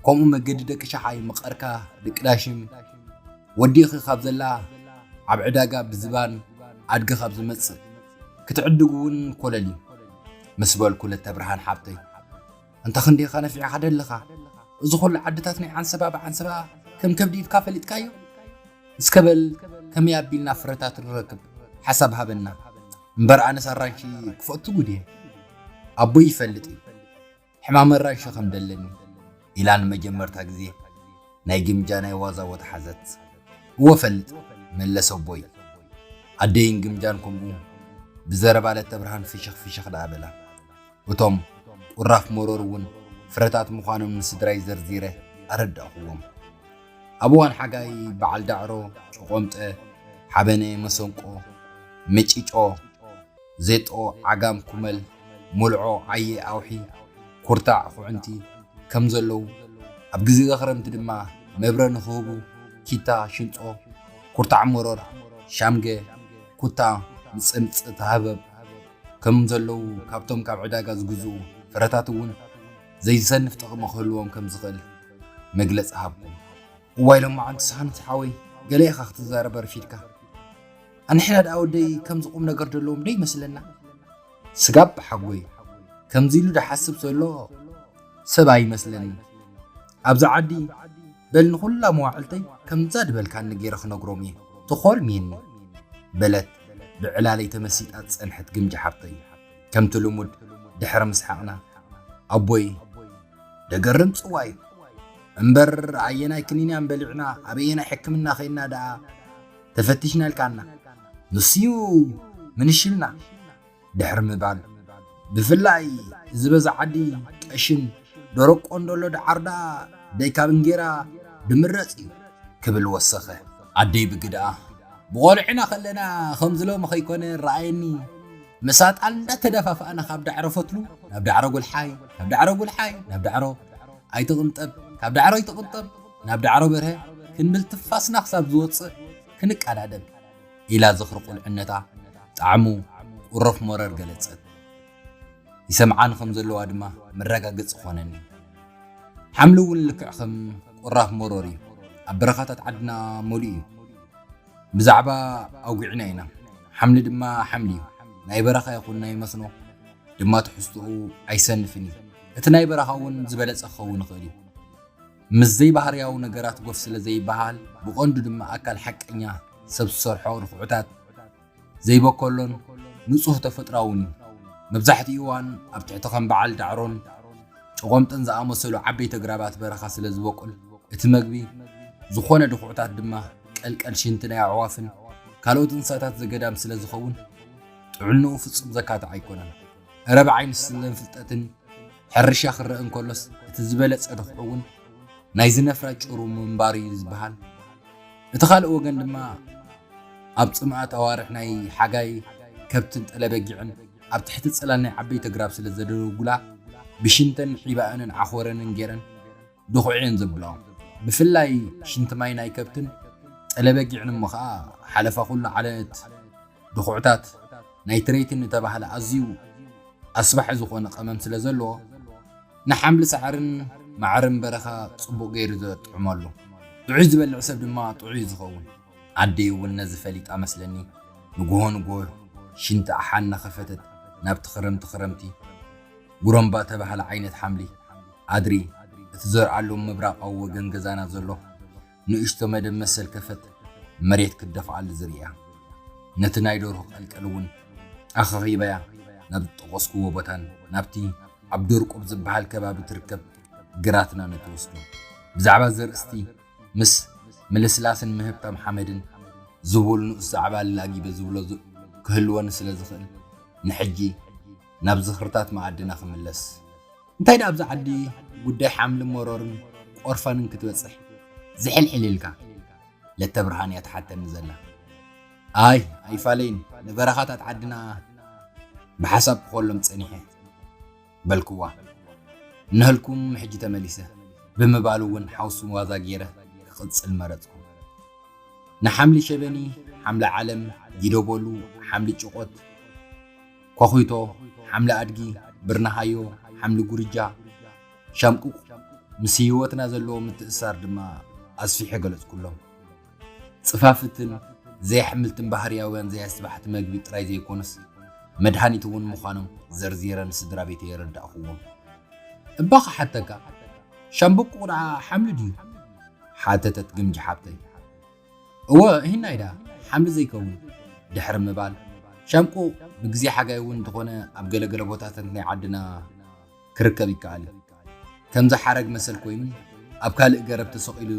ከምኡ መገዲ ደቂ ሸሓይ መቐርካ ደቂ ዳሽም ወዲእኺ ካብ ዘላ ኣብ ዕዳጋ ብዝባን ኣድጊ ካብ ዝመጽእ ክትዕድጉ እውን ኮለል እዩ ምስ በልኩ ለተብርሃን ሓብተይ ኣንታ ክንደይ ኢኻ ነፊዕኻ ደለኻ እዚ ኹሉ ዓድታት ናይ ዓንሰባ ብዓንሰባ ከም ከብዲ ኢልካ ፈሊጥካዮ እስከ በል ከመይ ኣቢልና ፍረታት ንረክብ ሓሳብ ሃበና እምበር ኣነስ ኣራንሺ ክፈቱ ጉድ እየ ኣቦይ ይፈልጥ እዩ ሕማም ኣራንሺ ከም ደለኒ ኢላ ንመጀመርታ ግዜ ናይ ግምጃ ናይ ዋዛ ቦታ ሓዘት እወ ፈልጥ መለሰ ኣቦይ ኣደይን ግምጃን ከምኡ ብዘረባ ለተብርሃን ፍሽኽ ፍሽኽ ደኣ በላ እቶም ቁራፍ መሮር እውን ፍረታት ምዃኖም ንስድራይ ዘርዚረ ኣረዳእኹዎም። ኣብ እዋን ሓጋይ በዓል ዳዕሮ፣ ጭቖምጠ፣ ሓበነ፣ መሰንቆ፣ መጪጮ፣ ዜጦ፣ ዓጋም፣ ኩመል፣ ሞልዖ፣ ዓየ፣ ኣውሒ፣ ኩርታዕ፣ ኹዕንቲ ከም ዘለዉ፣ ኣብ ግዜገ ክረምቲ ድማ መብረ ንኽህቡ ኪታ፣ ሽንጾ፣ ኩርታዕ መሮር፣ ሻምገ፣ ኩታ፣ ምጽምጽ፣ ተሃበብ፣ ከም ዘለዉ ካብቶም ካብ ዕዳጋ ዝግዝኡ ፍረታት እውን ዘይዘንፍ ጥቕሚ ክህልዎም ከም ዝኽእል መግለጺ ሃብኩም። እዋይ ሎማዓንቲ ሳኑስ ሓወይ ገለ ኢኻ ክትዛረብ ኣርፊድካ ኣንሕና ደኣ ወደይ ከምዚ ቁም ነገር ደለዎም ዶ ይመስለና ስጋብ ብሓጎይ ከምዚ ኢሉ ድሓስብ ዘሎ ሰብ ኣይመስለኒ ኣብዚ ዓዲ በል ንኹላ መዋዕልተይ ከምዛ ድበልካኒ ገይረ ክነግሮም እየ ተኾርሚየኒ በለት ብዕላለይ ተመሲጣ ዝጸንሐት ግምጃ ሓብተይ፣ ከምቲ ልሙድ ድሕሪ ምስሓቕና፣ ኣቦይ፣ ደገርም ጽዋ'ዩ፣ እምበር ኣየናይ ክኒን'ያም በሊዕና ኣበየናይ ሕክምና ኬድና ደኣ ተፈቲሽና ኢልካና፣ ንሱ'ዩ ምንሽልና! ድሕሪ ምባል ብፍላይ እዚ በዚ ዓዲ ጠሽን ደረቅ ቆንደሎ ድዓር ድኣ ደይ ካብ እንጌራ ድምረጽ እዩ ክብል ወሰኸ። ኣደይ ብግደኣ፣ ብቆልዕና ከለና ከምዚ ሎሚ ከይኮነ ረኣየኒ ምስ ኣጣል እንዳተደፋፋእና ካብ ዳዕሮ ፈትሉ ናብ ዳዕሮ ጉልሓይ ካብ ዳዕሮ ጉልሓይ ናብ ዳዕሮ ኣይትቅንጠብ ካብ ዳዕሮ ኣይትቅንጠብ ናብ ዳዕሮ በርሀ ክንብል ትፋስና ክሳብ ዝወጽእ ክንቀዳደም ኢላ ዝኽሪ ቁልዕነታ ጣዕሙ ቁሩፍ መረር ገለጸት። ይሰምዓኒ ከም ዘለዋ ድማ መረጋገጺ ኮነኒ። ሓምሊ እውን ልክዕ ከም ቁራፍ መሮር እዩ። ኣብ በረኻታት ዓድና መሊኡ እዩ። ብዛዕባ ኣውጊዕና ኢና። ሓምሊ ድማ ሓምሊ እዩ። ናይ በረኻ ይኹን ናይ መስኖ ድማ ትሕዝትኡ ኣይሰንፍን እዩ። እቲ ናይ በረኻ እውን ዝበለጸ ክኸውን ይኽእል እዩ። ምስ ዘይባህርያዊ ነገራት ጎፍ ስለ ዘይበሃል፣ ብቐንዱ ድማ ኣካል ሓቀኛ ሰብ ዝሰርሖ ርኽዑታት ዘይበከሎን ንጹህ ተፈጥሮኣውን እዩ። መብዛሕትኡ እዋን ኣብ ትሕቲ ከም በዓል ዳዕሮን ጨቖምጥን ዝኣመሰሉ ዓበይቲ ኣግራባት በረኻ ስለ ዝበቁል፣ እቲ መግቢ ዝኾነ ድኽዑታት ድማ ቀልቀል ሽንቲ ናይ ኣዕዋፍን ካልኦት እንስሳታት ዘገዳም ስለ ዝኸውን ጥዕንኡ ፍጹም ዘካትዕ ኣይኮነን። እረ ብዓይኒ ስለንፍልጠትን ሕርሻ ክረእ እንከሎስ እቲ ዝበለጸ ርኽዑ'ውን ናይዚ ነፍራ ጭሩ ምንባሩ እዩ ዝበሃል። እቲ ካልእ ወገን ድማ ኣብ ጽምኣት ኣዋርሕ ናይ ሓጋይ ከብትን ጠለ-በጊዕን ኣብ ትሕቲ ጽላል ናይ ዓበይቲ ኣግራብ ስለ ዘደደጉላ ብሽንተን ሒባኣንን ዓኾረንን ገይረን ድኹዒ እየን ዘብልኦ። ብፍላይ ሽንቲ ማይ ናይ ከብትን ጸለ በጊዕን እሞ ከኣ ሓለፋ ኩሉ ዓለት ድኹዕታት ናይትሬትን እተባህለ ኣዝዩ ኣስባሒ ዝኾነ ቀመም ስለ ዘለዎ ንሓምሊ ሳዕርን ማዕርን በረኻ ጽቡቕ ገይሩ ዘጥዕመሉ። ጥዑይ ዝበልዕ ሰብ ድማ ጥዑይ እዩ ዝኸውን። ኣደይ እውን ነዚ ፈሊጣ መስለኒ ንጉሆ ንጉሆ ሽንቲ ኣሓ እናኸፈተት ናብቲ ክረምቲ ክረምቲ ጉረምባ ተባህለ ዓይነት ሓምሊ ኣድሪ እትዘርኣሉ ምብራቓዊ ወገን ገዛና ዘሎ ንእሽቶ መደብ መሰል ከፈት መሬት ክትደፍኣሉ ዝርእያ ነቲ ናይ ደርሁ ቀልቀል እውን ኣኸኺበያ ናብ ዝጠቐስኩዎ ቦታን ናብቲ ኣብ ደርቁብ ዝበሃል ከባቢ ትርከብ ግራትና ነትወስዶ ብዛዕባ ዘርእስቲ ምስ ምልስላስን ምህብታም ሓመድን ዝቡል ንኡስ ዛዕባ ኣላጊበ ዝብሎ ክህልወኒ ስለ ዝኽእል፣ ንሕጂ ናብ ዝኽርታት መኣድና ክምለስ። እንታይ ደኣ ኣብዛ ዓዲ ጉዳይ ሓምሊ መሮርን ቆርፋንን ክትበጽሕ ዝሕልሕል ኢልካ? ለተብርሃን እያ ትሓተኒ ዘላ። ኣይ ኣይፋለይን፣ ንበረኻታት ዓድና ብሓሳብ ክኾሎም ጸኒሐ። በልክዋ እነሀልኩም ሕጂ ተመሊሰ ብምባል እውን ሓውሱ ዋዛ ገይረ ክቕጽል መረጽኩ። ንሓምሊ ሸበኒ፣ ሓምሊ ዓለም፣ ጊዶቦሉ፣ ሓምሊ ጭቖት፣ ኳዅቶ፣ ሓምሊ ኣድጊ፣ ብርነሃዮ፣ ሓምሊ ጉርጃ፣ ሻምቁቕ ምስ ህይወትና ዘለዎ ምትእስሳር ድማ ኣስፊሐ ገለጽኩሎም። ጽፋፍትን ዘይኣሕምልትን ባህርያውያን ዘይኣስባሕቲ መግቢ ጥራይ ዘይኰኑስ መድሃኒት እውን ምዃኖም ዘርዚረ ንስድራቤተይ የረዳእኩዎም። እባ ክሓተካ፣ ሻምብቆ ደኣ ሓምሊ ድዩ? ሓተተት ግምጃ ሓብተይ። እወ፣ ሂናይ ደኣ ሓምሊ ዘይከውን? ድሕሪ ምባል፣ ሻምቆ ብግዜ ሓጋይ እውን እንተዀነ ኣብ ገለ ገለ ቦታታት ናይ ዓድና፣ ክርከብ ይከኣል እዩ። ከምዚ ሓረግ መሰል ኮይኑ ኣብ ካልእ ገረብ ተሰቒሉ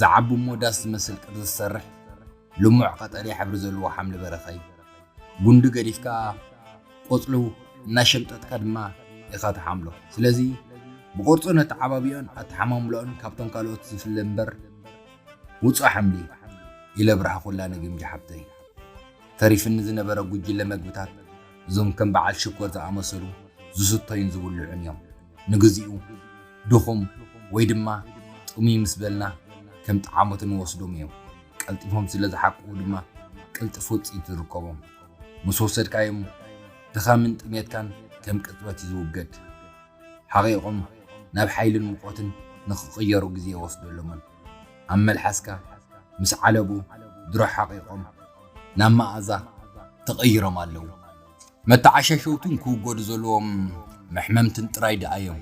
ዝዓቢ እሞ ዳስ ዝመስል ቅርጺ ዝሰርሕ ልሙዕ ቀጠልያ ሕብሪ ዘለዎ ሓምሊ በረኻ እዩ። ጉንዲ ገዲፍካ ቆጽሉ እናሸምጠጥካ ድማ ኢኻ ትሓምሎ። ስለዚ ብቕርጹን ኣተዓባብያኡን ኣተሓማምሎኡን ካብቶም ካልኦት ዝፍለ እምበር ውጹእ ሓምሊ እዩ። ኢለ ብርሃኹላ ንግምጃ ሓብተይ። ተሪፍኒ ዝነበረ ጉጅለ መግብታት እዞም ከም በዓል ሽኮር ዝኣመሰሉ ዝስተዩን ዝብልዑን እዮም። ንግዚኡ ድኹም ወይ ድማ ጥሙይ ምስ በልና ከም ጠዓሞት እንወስዶም እዮም። ቀልጢፎም ስለ ዝሓቅቑ ድማ ቅልጥፍ ውፅኢት ዝርከቦም። ምስ ወሰድካዮም ድኻምን ጥምየትካን ከም ቅፅበት እዩ ዝውገድ። ሓቒቖም ናብ ሓይልን ሙቐትን ንክቕየሩ ግዜ የወስደሎምን። ኣብ መልሓስካ ምስ ዓለቡ ድሮ ሓቒቖም ናብ መኣዛ ተቐይሮም ኣለዉ። መተዓሻሸውትን ክውገዱ ዘለዎም መሕመምትን ጥራይ ደኣ'ዮም።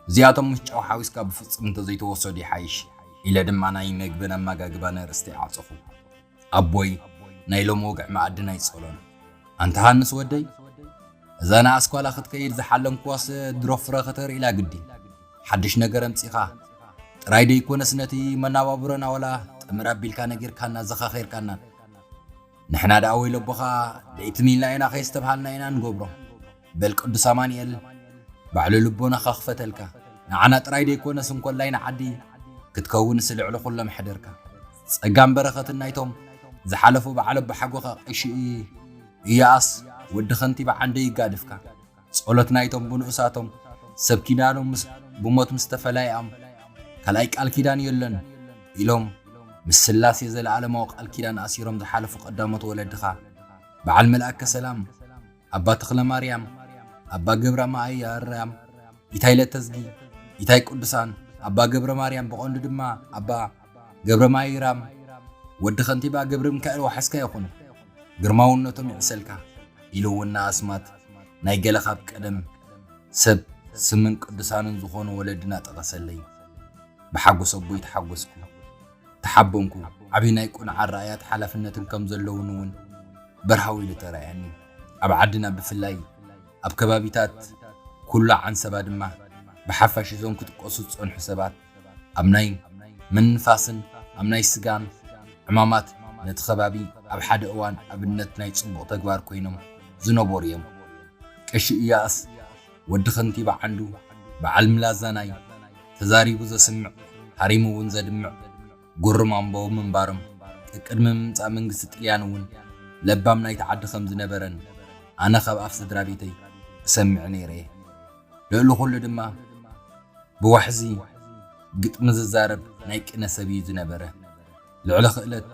እዚኣቶም ምስ ጨው ሓዊስካ ብፍጹም እንተዘይተወሰዱ ይሓይሽ ኢለ ድማ ናይ መግብን ኣመጋግባን ኣርእስተይ ዓጸኹ። ኣቦይ ናይ ሎሚ ወግዒ መኣድን ኣይጸሎን። ኣንታ ሃንስ ወደይ እዛ ንኣስኳላ ክትከይድ ዝሓለምክዋስ ድሮ ፍረ ከተርእላ ግዲ። ሓድሽ ነገር ኣምጺኻ ጥራይ ደይኮነስ ነቲ መናባብሮና ወላ ጥምር ኣቢልካ ነጊርካና ዘኻኺርካናን። ንሕና ደኣ ወይለቦኻ ደይትም ኢልና ኢና ከየስተብሃልና ኢና ንገብሮ። በል ቅዱስ ኣማኒኤል ባዕሉ ልቦናኻ ክፈተልካ ንዓና ጥራይ ደይኮነስ እንኮላይ ንዓዲ ክትከውንስ ልዕሊ ኩሎም ሕደርካ ጸጋን በረኸትን ናይቶም ዝሓለፉ በዓል ኣቦሓጎኻ ቀሺ ኢያኣስ ወዲ ከንቲባ ዓንደ ይጋድፍካ ጸሎት ናይቶም ብንኡሳቶም ሰብ ኪዳኖም ምስ ብሞት ምስ ተፈላይኣም ካልኣይ ቃል ኪዳን የለን ኢሎም ምስ ስላሴ ዘለኣለማዊ ቃል ኪዳን ኣሲሮም ዝሓለፉ ቀዳሞት ወለድኻ በዓል መልኣከ ሰላም ኣባ ተኽለማርያም፣ ኣባ ገብራ መኣይ ኣርያም፣ ኢታይ ለተዝጊ፣ ኢታይ ቅዱሳን፣ ኣባ ገብረ ማርያም ብቐንዱ ድማ ኣባ ገብረ ማይራም ወዲ ከንቲባ ገብረሚካኤል ዋሕስካ ይኹኑ። ግርማውነቶም ይዕሰልካ ኢሉ እውን ንኣስማት ናይ ገለ ካብ ቀደም ሰብ ስምን ቅዱሳንን ዝኾኑ ወለድና ጠቐሰለይ። ብሓጎስ ኣቦይ ተሓጎስኩ። ተሓበንኩ። ዓቢ ናይ ቅኑዕ ኣረኣእያን ሓላፍነትን ከም ዘለዉኒ'ውን በርሃው ኢሉ ተራእያኒ። ኣብ ዓድና ብፍላይ ኣብ ከባቢታት ኩሉ ዓንሰባ ድማ ብሓፋሽ እዞም ክጥቀሱ ዝጸንሑ ሰባት ኣብ ናይ ምንፋስን ኣብ ናይ ስጋን ዕማማት ነቲ ከባቢ ኣብ ሓደ እዋን ኣብነት ናይ ጽቡቕ ተግባር ኮይኖም ዝነበሩ'ዮም። ቀሺ ኢያእስ። ወዲ ከንቲባ ዓንዱ በዓል ምላዛ ናይ ተዛሪቡ ዘስምዕ ሃሪሙ እውን ዘድምዕ ጉሩም ኣምበው ምንባሮም ቀቅድሚ ምምጻእ መንግስቲ ጥልያን እውን ለባም ናይቲ ዓዲ ከም ዝነበረን ኣነ ካብ ኣፍ ስድራቤተይ እሰምዕ ነይረ እየ። ልእሊ ኩሉ ድማ ብዋሕዚ ግጥሚ ዝዛረብ ናይ ቅነ ሰብ እዩ ዝነበረ። ልዕሊ ክእለት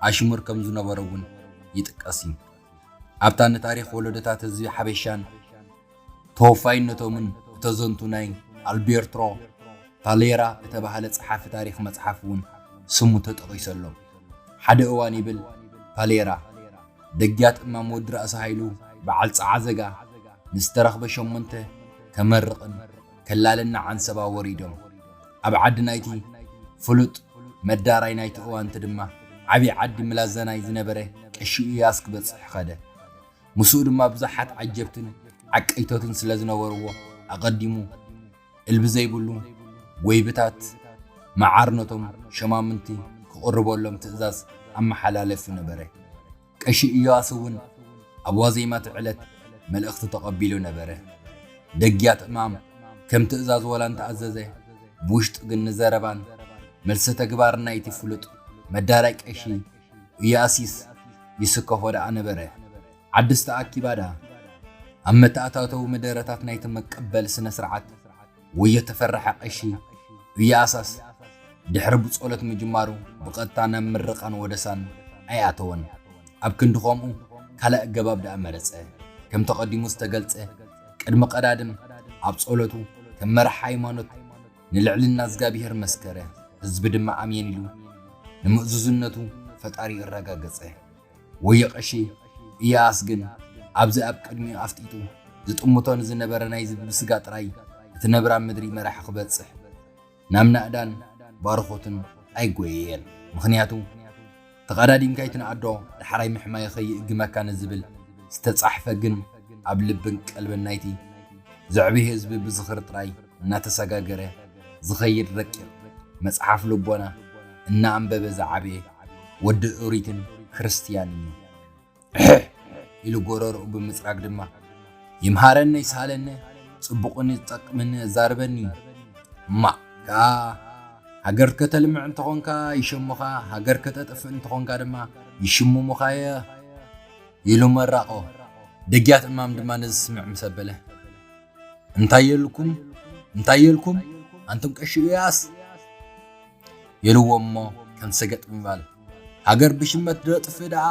ኣሽሙር ከም ዝነበሮ እውን ይጥቀስ እዩ። ኣብታ ንታሪኽ ወለዶታት ህዝቢ ሓበሻን ተወፋይነቶምን እተዘንቱ ናይ ኣልቤርትሮ ፓሌራ እተባህለ ጸሓፊ ታሪኽ መጽሓፍ እውን ስሙ ተጠቒሱ ኣሎ። ሓደ እዋን ይብል ፓሌራ፣ ደግያት እማም ወዲ ራእሲ ሃይሉ በዓል ጸዓዘጋ ምስ ተረኽበ ሸሞንተ ከመርቕን ከላልን ንዓንሰባ ወሪዶም። ኣብ ዓዲ ናይቲ ፍሉጥ መዳራይ ናይቲ እዋንቲ ድማ ዓብዪ ዓዲ ምላዘናይ ዝነበረ ቀሺ እያስ ክበጽሕ ኸደ። ምስኡ ድማ ብዙሓት ዓጀብትን ዓቀይቶትን ስለ ዝነበርዎ ኣቐዲሙ እልቢ ዘይብሉ ወይብታት መዓር ነቶም ሸማምንቲ ክቕርበሎም ትእዛዝ ኣመሓላለፊ ነበረ። ቀሺ ኢዮኣስ እውን ኣብ ዋዜማ እቲ ዕለት መልእኽቲ ተቐቢሉ ነበረ። ደግያት እማም ከም ትእዛዝ ወላ እንተኣዘዘ ብውሽጢ ግን ንዘረባን መልሰ ተግባርን ናይቲ ፍሉጥ መዳላይ ቀሺ እያሲስ ይስከፎ ደኣ ነበረ። ዓድስ ተኣኪባ ደኣ ኣብ መተኣታተዊ መደረታት ናይቲ መቀበሊ ስነ-ስርዓት ወዮ ተፈረሐ ቀሺ እያኣሳስ ድሕሪ ብጾሎት ምጅማሩ ብቐጥታ ናብ ምርቓን ወደሳን ኣይኣተወን። ኣብ ክንዲ ከምኡ ካልእ ኣገባብ ደኣ መረጸ። ከም ተቐዲሙ ዝተገልጸ ቅድሚ ቀዳድም ኣብ ጾሎቱ ከም መራሒ ሃይማኖት፣ ንልዕልና እዝጋብሄር መስከረ፣ ህዝቢ ድማ ኣሜን ኢሉ ንምእዙዝነቱ ፈጣሪኡ ኣረጋገጸ። ወዮ ቀሺ ኢዮኣስ ግን ኣብዚ ኣብ ቅድሚኡ ኣፍጢጡ ዝጥምቶ ንዝነበረ ናይዚ ብብስጋ ጥራይ እትነብር ኣብ ምድሪ መራሒ ክበጽሕ ናብ ናእዳን ባርኾቱን ኣይጎየየን። ምኽንያቱ። ተቐዳዲምካ ኣይትንኣዶ ዳሕራይ ምሕማየ ከይእግመካ ንዝብል ዝተጻሕፈ ግን ኣብ ልብን ቀልብን ናይቲ ዘዕቢ ህዝቢ ብዝኽሪ ጥራይ እናተሰጋገረ ዝኸይድ ረቂቕ መጽሓፍ ልቦና እናኣንበበ ዝዓበየ ወዲ ኦሪትን ክርስትያንን እዩ። ሕሕ ኢሉ ጎረርኡ ብምጽራግ ድማ፣ ይምሃረነ ይስሃለነ ጽቡቕን ዝጠቅምን ኣዛርበኒ እዩ። እማእ ከኣ ሃገር ከተልምዕ እንተኾንካ ይሸሙኻ፣ ሃገር ከተጥፍእ እንተኾንካ ድማ ይሽሙሙኻ እየ ኢሉ መራቖ። ደግያት እማም ድማ ነዚ ስምዕ ምስ ኣበለ፣ እንታይ የልኩም እንታይ የልኩም ኣንቱም ቀሺ ኢያስ! የልዎሞ ከም ሰገጥ ምባል ሃገር ብሽመት ደጥፊ ደኣ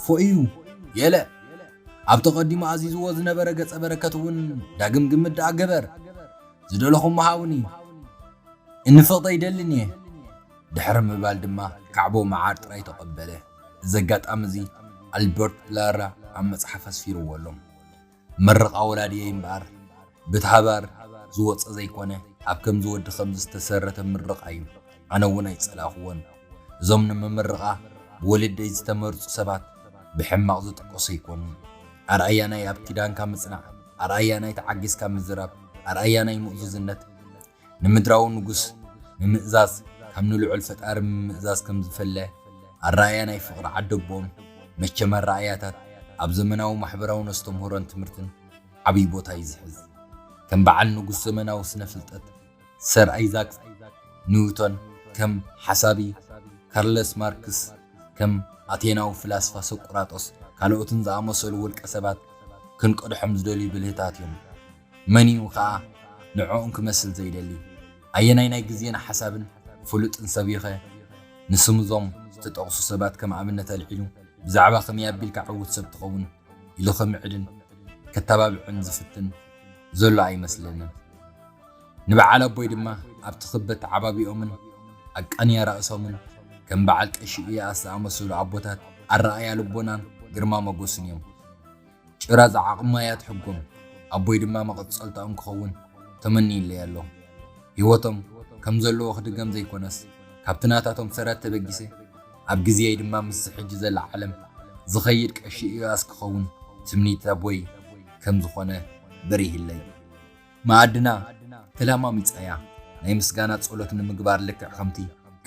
ፎእዩ የለ ኣብ ተቀዲሙ ኣዚዝዎ ዝነበረ ገጸ በረከት እውን ዳግም ግምት ደኣ ገበር ዝደለኹሞ ሃቡኒ እኒ ፍቅድ ኣይደልን እየ ድሕሪ ምባል ድማ ካዕቦ መዓር ጥራይ ተቀበለ እዚ ኣጋጣሚ እዚ ኣልበርት ፕላራ ኣብ መጽሓፍ ኣስፊርዎ ኣሎ። ምርቓ ወላዲየይ እምበኣር ብት ሃባር ዝወጸ ዘይኮነ ኣብ ከምዚ ወዲ ከምዚ ዝተሰረተ ምርቓ እዩ ኣነ ውን ኣይጸላእክዎን እዞም ንምምርቓ ብወለዲይ ዝተመርጹ ሰባት ብሕማቕ ዝጥቀሱ ኣይኮኑን ኣርኣያ ናይ ኣብ ኪዳንካ ምጽናዕ ኣርኣያ ናይ ተዓጊስካ ምዝራብ ኣርኣያ ናይ ምእዙዝነት ንምድራዊ ንጉስ ምምእዛዝ ካብ ንልዑል ፈጣሪ ምምእዛዝ ከም ዝፈለ ኣረኣእያ ናይ ፍቕሪ ዓደቦኦም መቸም ኣረኣእያታት ኣብ ዘመናዊ ማሕበራውን ኣስተምህሮን ትምህርትን ዓብይ ቦታ እዩ ዝሕዝ። ከም በዓል ንጉስ ዘመናዊ ስነ ፍልጠት ሰር ኣይዛክ ኒውቶን ከም ሓሳቢ ካርለስ ማርክስ ከም ኣቴናዊ ፍላስፋ ሶቁራጦስ ካልኦትን ዝኣመሰሉ ውልቀ ሰባት ክንቀድሖም ዝደልዩ ብልህታት እዮም። መን'ዩ ከኣ ንዕኦም ክመስል ዘይደሊ? ኣየናይ ናይ ግዜን ሓሳብን ፍሉጥን ሰብ'ዩኸ ንስም'ዞም ዝተጠቕሱ ሰባት ከም ኣብነት ኣልዒሉ ብዛዕባ ከመይ ኣቢልካ ዕዉት ሰብ ትኸውን ኢሉ ከምዕድን ከተባብዕን ዝፍትን ዘሎ ኣይመስለንን። ንበዓል ኣቦይ ድማ ኣብቲ ክብ ኣተዓባብይኦምን ኣቃንያ ራእሶምን ከም በዓል ቀሺ ኢያኣስ ዝኣመሰሉ ኣቦታት ኣረኣእያ ልቦናን ግርማ ሞጎስን'ዮም። ጭራ ዝዓቕማ እያ ትሕጎም፣ ኣቦይ ድማ መቐጸልታኦም ክኸውን ተመንዩለይ ኣሎ። ህይወቶም ከም ዘለዎ ክድገም ዘይኮነስ፣ ካብቲ ናታቶም ሰረት ተበጊሰ፣ ኣብ ግዜየይ ድማ ምስዚ ሕጂ ዘላ ዓለም ዝኸይድ ቀሺ ኢዮኣስ ክኸውን ትምኒት ኣቦይ ከም ዝኾነ በሪህለይ። መኣድና ተለማሚጻ'ያ፣ ናይ ምስጋና ጸሎት ንምግባር ልክዕ ከምቲ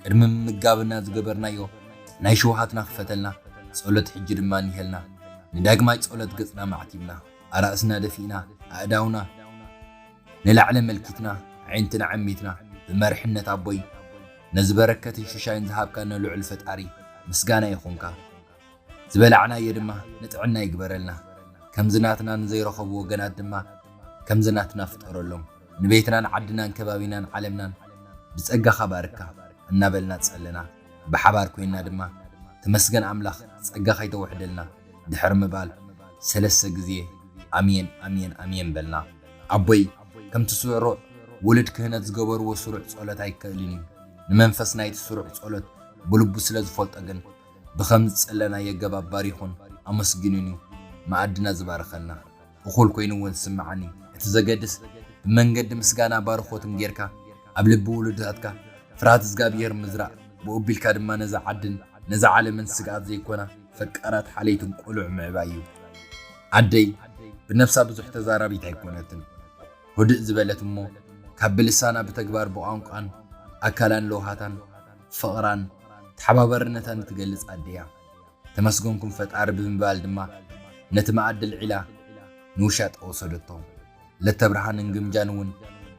ቅድሚ ምምጋብና ዝገበርናዮ ናይ ሽውሃትና ክፈተልና ጸሎት ሕጂ ድማ እኒሀልና ንዳግማይ ጸሎት ገጽና ማዕቲብና ኣራእስና ደፊእና ኣእዳውና ንላዕሊ ኣመልኪትና ኣዒንትና ዓሚትና ብመርሕነት ኣቦይ ነዚ በረከትን ሽሻይን ዝሃብካና ልዑል ፈጣሪ ምስጋና ይኹንካ ዝበላዕናዮ ድማ ንጥዕና ይግበረልና ከምዚ ናትና ንዘይረኸቡ ወገናት ድማ ከምዚ ናትና ፍጠረሎም ንቤትናን ዓድናን ከባቢናን ዓለምናን ብጸጋኻ ባርካ እናበልና ጸለና ብሓባር ኮይንና ድማ ተመስገን ኣምላኽ ጸጋኻ ይተውሕደልና ድሕሪ ምባል ሰለስተ ግዜ ኣሜን ኣሜን ኣሜን በልና። ኣቦይ ከምቲ ስሩዕ ውሉድ ክህነት ዝገበርዎ ስሩዕ ጸሎት ኣይከእልን እዩ። ንመንፈስ ናይቲ ስሩዕ ጸሎት ብልቡ ስለ ዝፈልጦ ግን ብኸም ዝጸለናዮ ኣገባብ ባሪኹን ኣመስጊኑን እዩ መኣድና ዝባርኸና። እኹል ኮይኑ እውን ዝስምዓኒ፣ እቲ ዘገድስ ብመንገዲ ምስጋና ባርኾትን ጌርካ ኣብ ልቢ ውሉድታትካ ፍርሃት እዝጋብሄር ምዝራእ ብኡ ኣቢልካ ድማ ነዛ ዓድን ነዛ ዓለምን ስግኣት ዘይኮና ፈቃራት ሓለይትን ቆልዑ ምዕባይ እዩ። ኣደይ ብነብሳ ብዙሕ ተዛራቢት ኣይኮነትን። ህድእ ዝበለት እሞ ካብ ብልሳና ብተግባር ብቋንቋን ኣካላን ለውሃታን ፍቕራን ተሓባባርነታን እትገልጽ ኣደ እያ። ተመስገንኩም ፈጣሪ ብምባል ድማ ነቲ መኣዲ ኣልዒላ ንውሻጠ ወሰደቶ። ለተብርሃንን ግምጃን እውን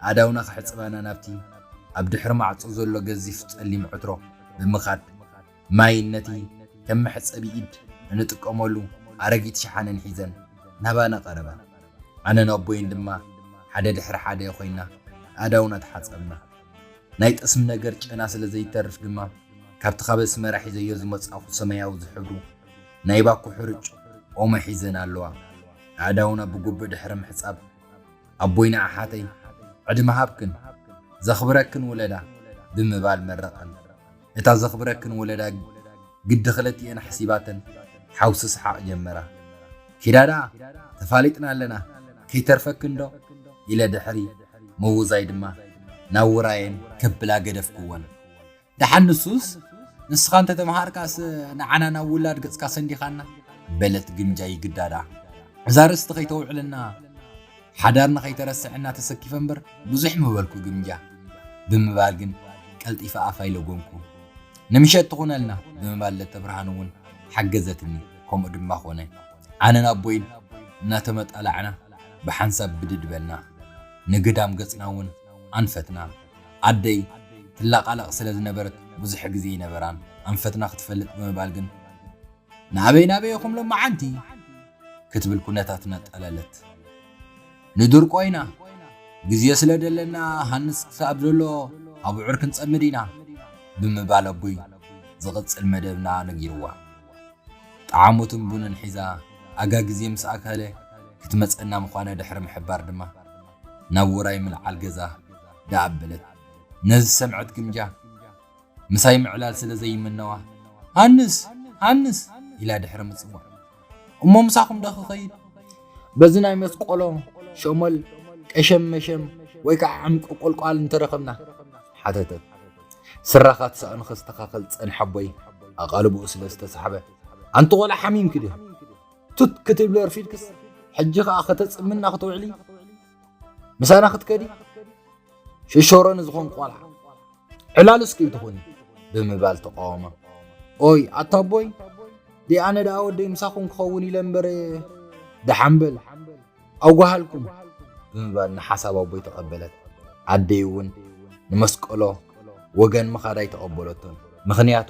ኣእዳውና ክሕጽባና ናብቲ ኣብ ድሕሪ ማዕጾ ዘሎ ገዚፍ ጸሊም ዕትሮ ብምኻድ ማይን ነቲ ከም መሕጸቢ ኢድ እንጥቀመሉ ኣረጊት ሸሓነን ሒዘን ናባና ቀረባ። ኣነን ኣቦይን ድማ ሓደ ድሕሪ ሓደ ኮይና ኣእዳውና ተሓጸብና። ናይ ጠስሚ ነገር ጨና ስለ ዘይተርፍ ድማ ካብቲ ካብ ኣስመራ ሒዘዮ ዝመጻእኩ ሰማያዊ ዝሕብሩ ናይ ባኮ ሕርጭ ኦሞ ሒዘን ኣለዋ ኣእዳውና ብጉብእ ድሕሪ ምሕጻብ ኣቦይና ኣሓተይ ዕድመ ሃብክን ዘኽብረክን ውለዳ ብምባል መረቐን። እታ ዘኽብረክን ወለዳ ግዲ ክለቲኤን ሓሲባተን ሓውሲ ስሓቕ ጀመራ። ኪዳ ደኣ ተፋሊጥና ኣለና ከይተርፈክን ዶ ኢለ ድሕሪ ምውዛይ ድማ ናብ ውራየን ከብላ ገደፍክወን። ደሓን ንሱስ ንስኻ እንተ ተመሃርካስ ንዓና ናብ ውላድ ገጽካ ሰንዲኻና በለት ግምጃ ይግዳ ደኣ እዛ ርስቲ ከይተውዕለና። ሓዳር ንኸይተረስዕ እና ተሰኪፈ እምበር ብዙሕ ምበልኩ ግምጃ ብምባል ግን ቀልጢፈ ኣፍ ኣይለጎምኩ። ንምሸት ትኹነልና ብምባል ለተብርሃን እውን ሓገዘትኒ ከምኡ ድማ ኮነ። ኣነን ኣቦይን እናተመጣላዕና ብሓንሳብ ብድድ በልና። ንግዳም ገፅና እውን ኣንፈትና። ኣደይ ትላቓላቕ ስለ ዝነበረት ብዙሕ ግዜ ኣይነበራን ኣንፈትና ክትፈልጥ ብምባል ግን። ናበይ ናበይ ኢኹም ሎማዓንቲ? ክትብል ኩነታትና ኣጣለለት። ንድርቆ ኢና፣ ግዜ ስለ ደለና ሃንስ ክሳብ ዘሎ ኣቡዑር ክንጸምድ ኢና፣ ብምባል ኣቡይ ዝቕጽል መደብና ነጊርዋ። ጠዓሞትን ቡንን ሒዛ ኣጋ ግዜ ምስ ኣከለ ክትመጸና ምዃና ድሕሪ ምሕባር ድማ ናብ ውራይ ምልዓል ገዛ ደኣበለት። ነዚ ዝሰምዐት ግምጃ። ምሳይ ምዕላል ስለ ዘይምነዋ፣ ሃንስ! ሃንስ! ኢላ ድሕሪ ምጽዋዕ፣ እሞ ምሳኹም ዶ ክኸይድ? በዚ ናይ መስቆሎ፣ ሸሞል፣ ቀሸም መሸም ወይ ከኣ ዕምቂ ቁልቋል እንተ ረኸብና? ሓተተት። ስራኻ ትሳእኑ ከስተኻኽል ጸንሐ ኣቦይ ኣቓልቦኡ ስለ ዝተሳሕበ፣ ኣንቲ ቆልዓ ሓሚምኪ ድዮ? ቱት ክትብሊ ኣርፊድክስ ሕጂ ከኣ ከተጽምና ክትውዕሊ? ምሳና ክትከዲ? ሽሾሮ ንዝኾን ቆልዓ ዕላሉ እስኪ እንትኹን ብምባል ተቃወመ ኦይ ኣታ ኣቦይ ዲኣነ ደኣ ወደይ ምሳኹም ክኸውን ኢለ እምበር ደሓንበል ኣጓሃልኩም ብምባል ንሓሳብ ኣቦይ ተቐበለት ኣደይ እውን ንመስቀሎ ወገን ምኻዳይ ተቐበለቶም ምኽንያቱ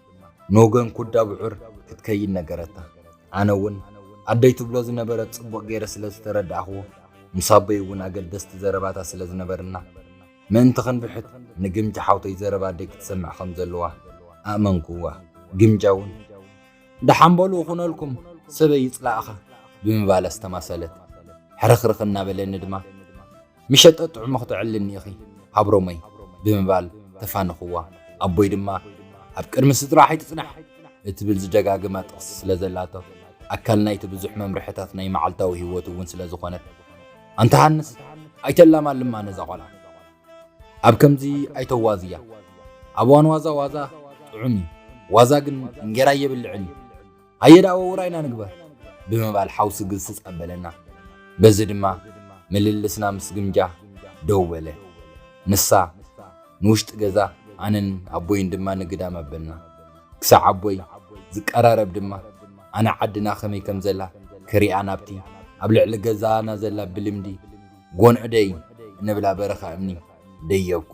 ንወገን ኩዳ ብዑር ክትከይድ ነገረታ። ኣነ እውን ኣደይ ትብሎ ዝነበረት ጽቡቕ ገይረ ስለ ዝተረዳእክዎ፣ ምስ ኣቦይ እውን ኣገደስቲ ዘረባታት ስለ ዝነበርና፣ ምእንቲ ክንብሕት ንግምጃ ሓውተይ ዘረባ ኣደይ ክትሰምዕ ከም ዘለዋ ኣእመንክዋ። ግምጃ እውን። ደሓን በሉ እኹነልኩም፣ ሰበይ ይጽላእኻ! ብምባል ኣስተማሰለት። ሕርኽርኽ እናበለኒ ድማ። ምሸጠ ጥዑሙ ክተዕልኒ ኢኺ ሃብሮመይ ብምባል ተፋነኹዋ። ኣቦይ ድማ ኣብ ቅድሚ ስድራ ኣይትጽናሕ እትብል ዝደጋግማ ጥቕሲ ስለ ዘላቶ፣ ኣካል ናይቲ ብዙሕ መምርሕታት ናይ መዓልታዊ ህይወቱ እውን ስለ ዝኾነት፣ ኣንታ ሃንስ ኣይተላማልማ ነዛ ቆልዓ። ኣብ ከምዚ ኣይተዋዝያ። ኣብ እዋን ዋዛ ዋዛ ጥዑም እዩ፣ ዋዛ ግን እንጌራ እየብልዕን እዩ። ሃየ ደኣ ወውራይና ንግበር ብምባል ሓው ስግስጽ ኣበለና። በዚ ድማ ምልልስና ምስ ግምጃ ደው በለ። ንሳ ንውሽጢ ገዛ ኣነን ኣቦይን ድማ ንግዳም ኣበልና። ክሳዕ ኣቦይ ዝቀራረብ ድማ ኣነ ዓድና ከመይ ከም ዘላ ክሪኣ ናብቲ ኣብ ልዕሊ ገዛና ዘላ ብልምዲ ጎንዑ ደይ እንብላ በረኻ እምኒ ደየብኩ።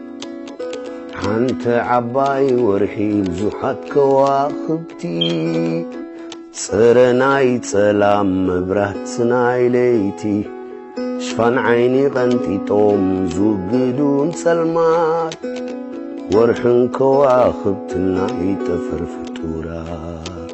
ሓንቲ ዓባይ ወርሒ ብዙሓት ከዋኽብቲ ጽረ ናይ ጸላም መብራት ናይ ለይቲ ሽፋን ዓይኒ ቐንጢጦም ዝውግዱን ጸልማት ወርሕን ከዋኽብትን ናይ ጠፈር ፍጡራት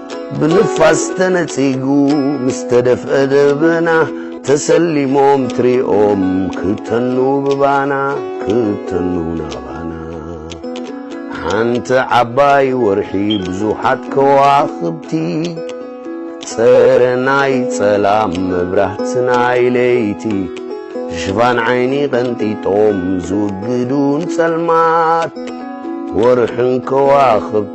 ብንፋስ ተነጺጉ ምስ ተደፍአ ደበና ተሰሊሞም ትሪኦም ክተኑ ብባና ክተኑ ናባና ሓንቲ ዓባይ ወርሒ ብዙሓት ከዋኽብቲ ጸረ ናይ ጸላም መብራህቲ ናይ ለይቲ ሽፋን ዓይኒ ቐንጢጦም ዝውግዱን ጸልማት ወርሕን ከዋኽብቲ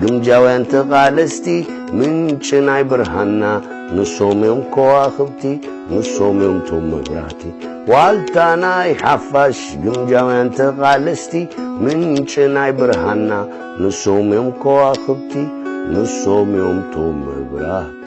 ግምጃውያን ተቓለስቲ ምንጪ ናይ ብርሃንና ንሶም እዮም ከዋኽብቲ ንሶም እዮም ቶም መብራህቲ ዋልታ ናይ ሓፋሽ ግምጃውያን ተቓለስቲ ምንጪ ናይ ብርሃንና ንሶም እዮም ከዋኽብቲ ንሶም እዮም ቶም መብራህቲ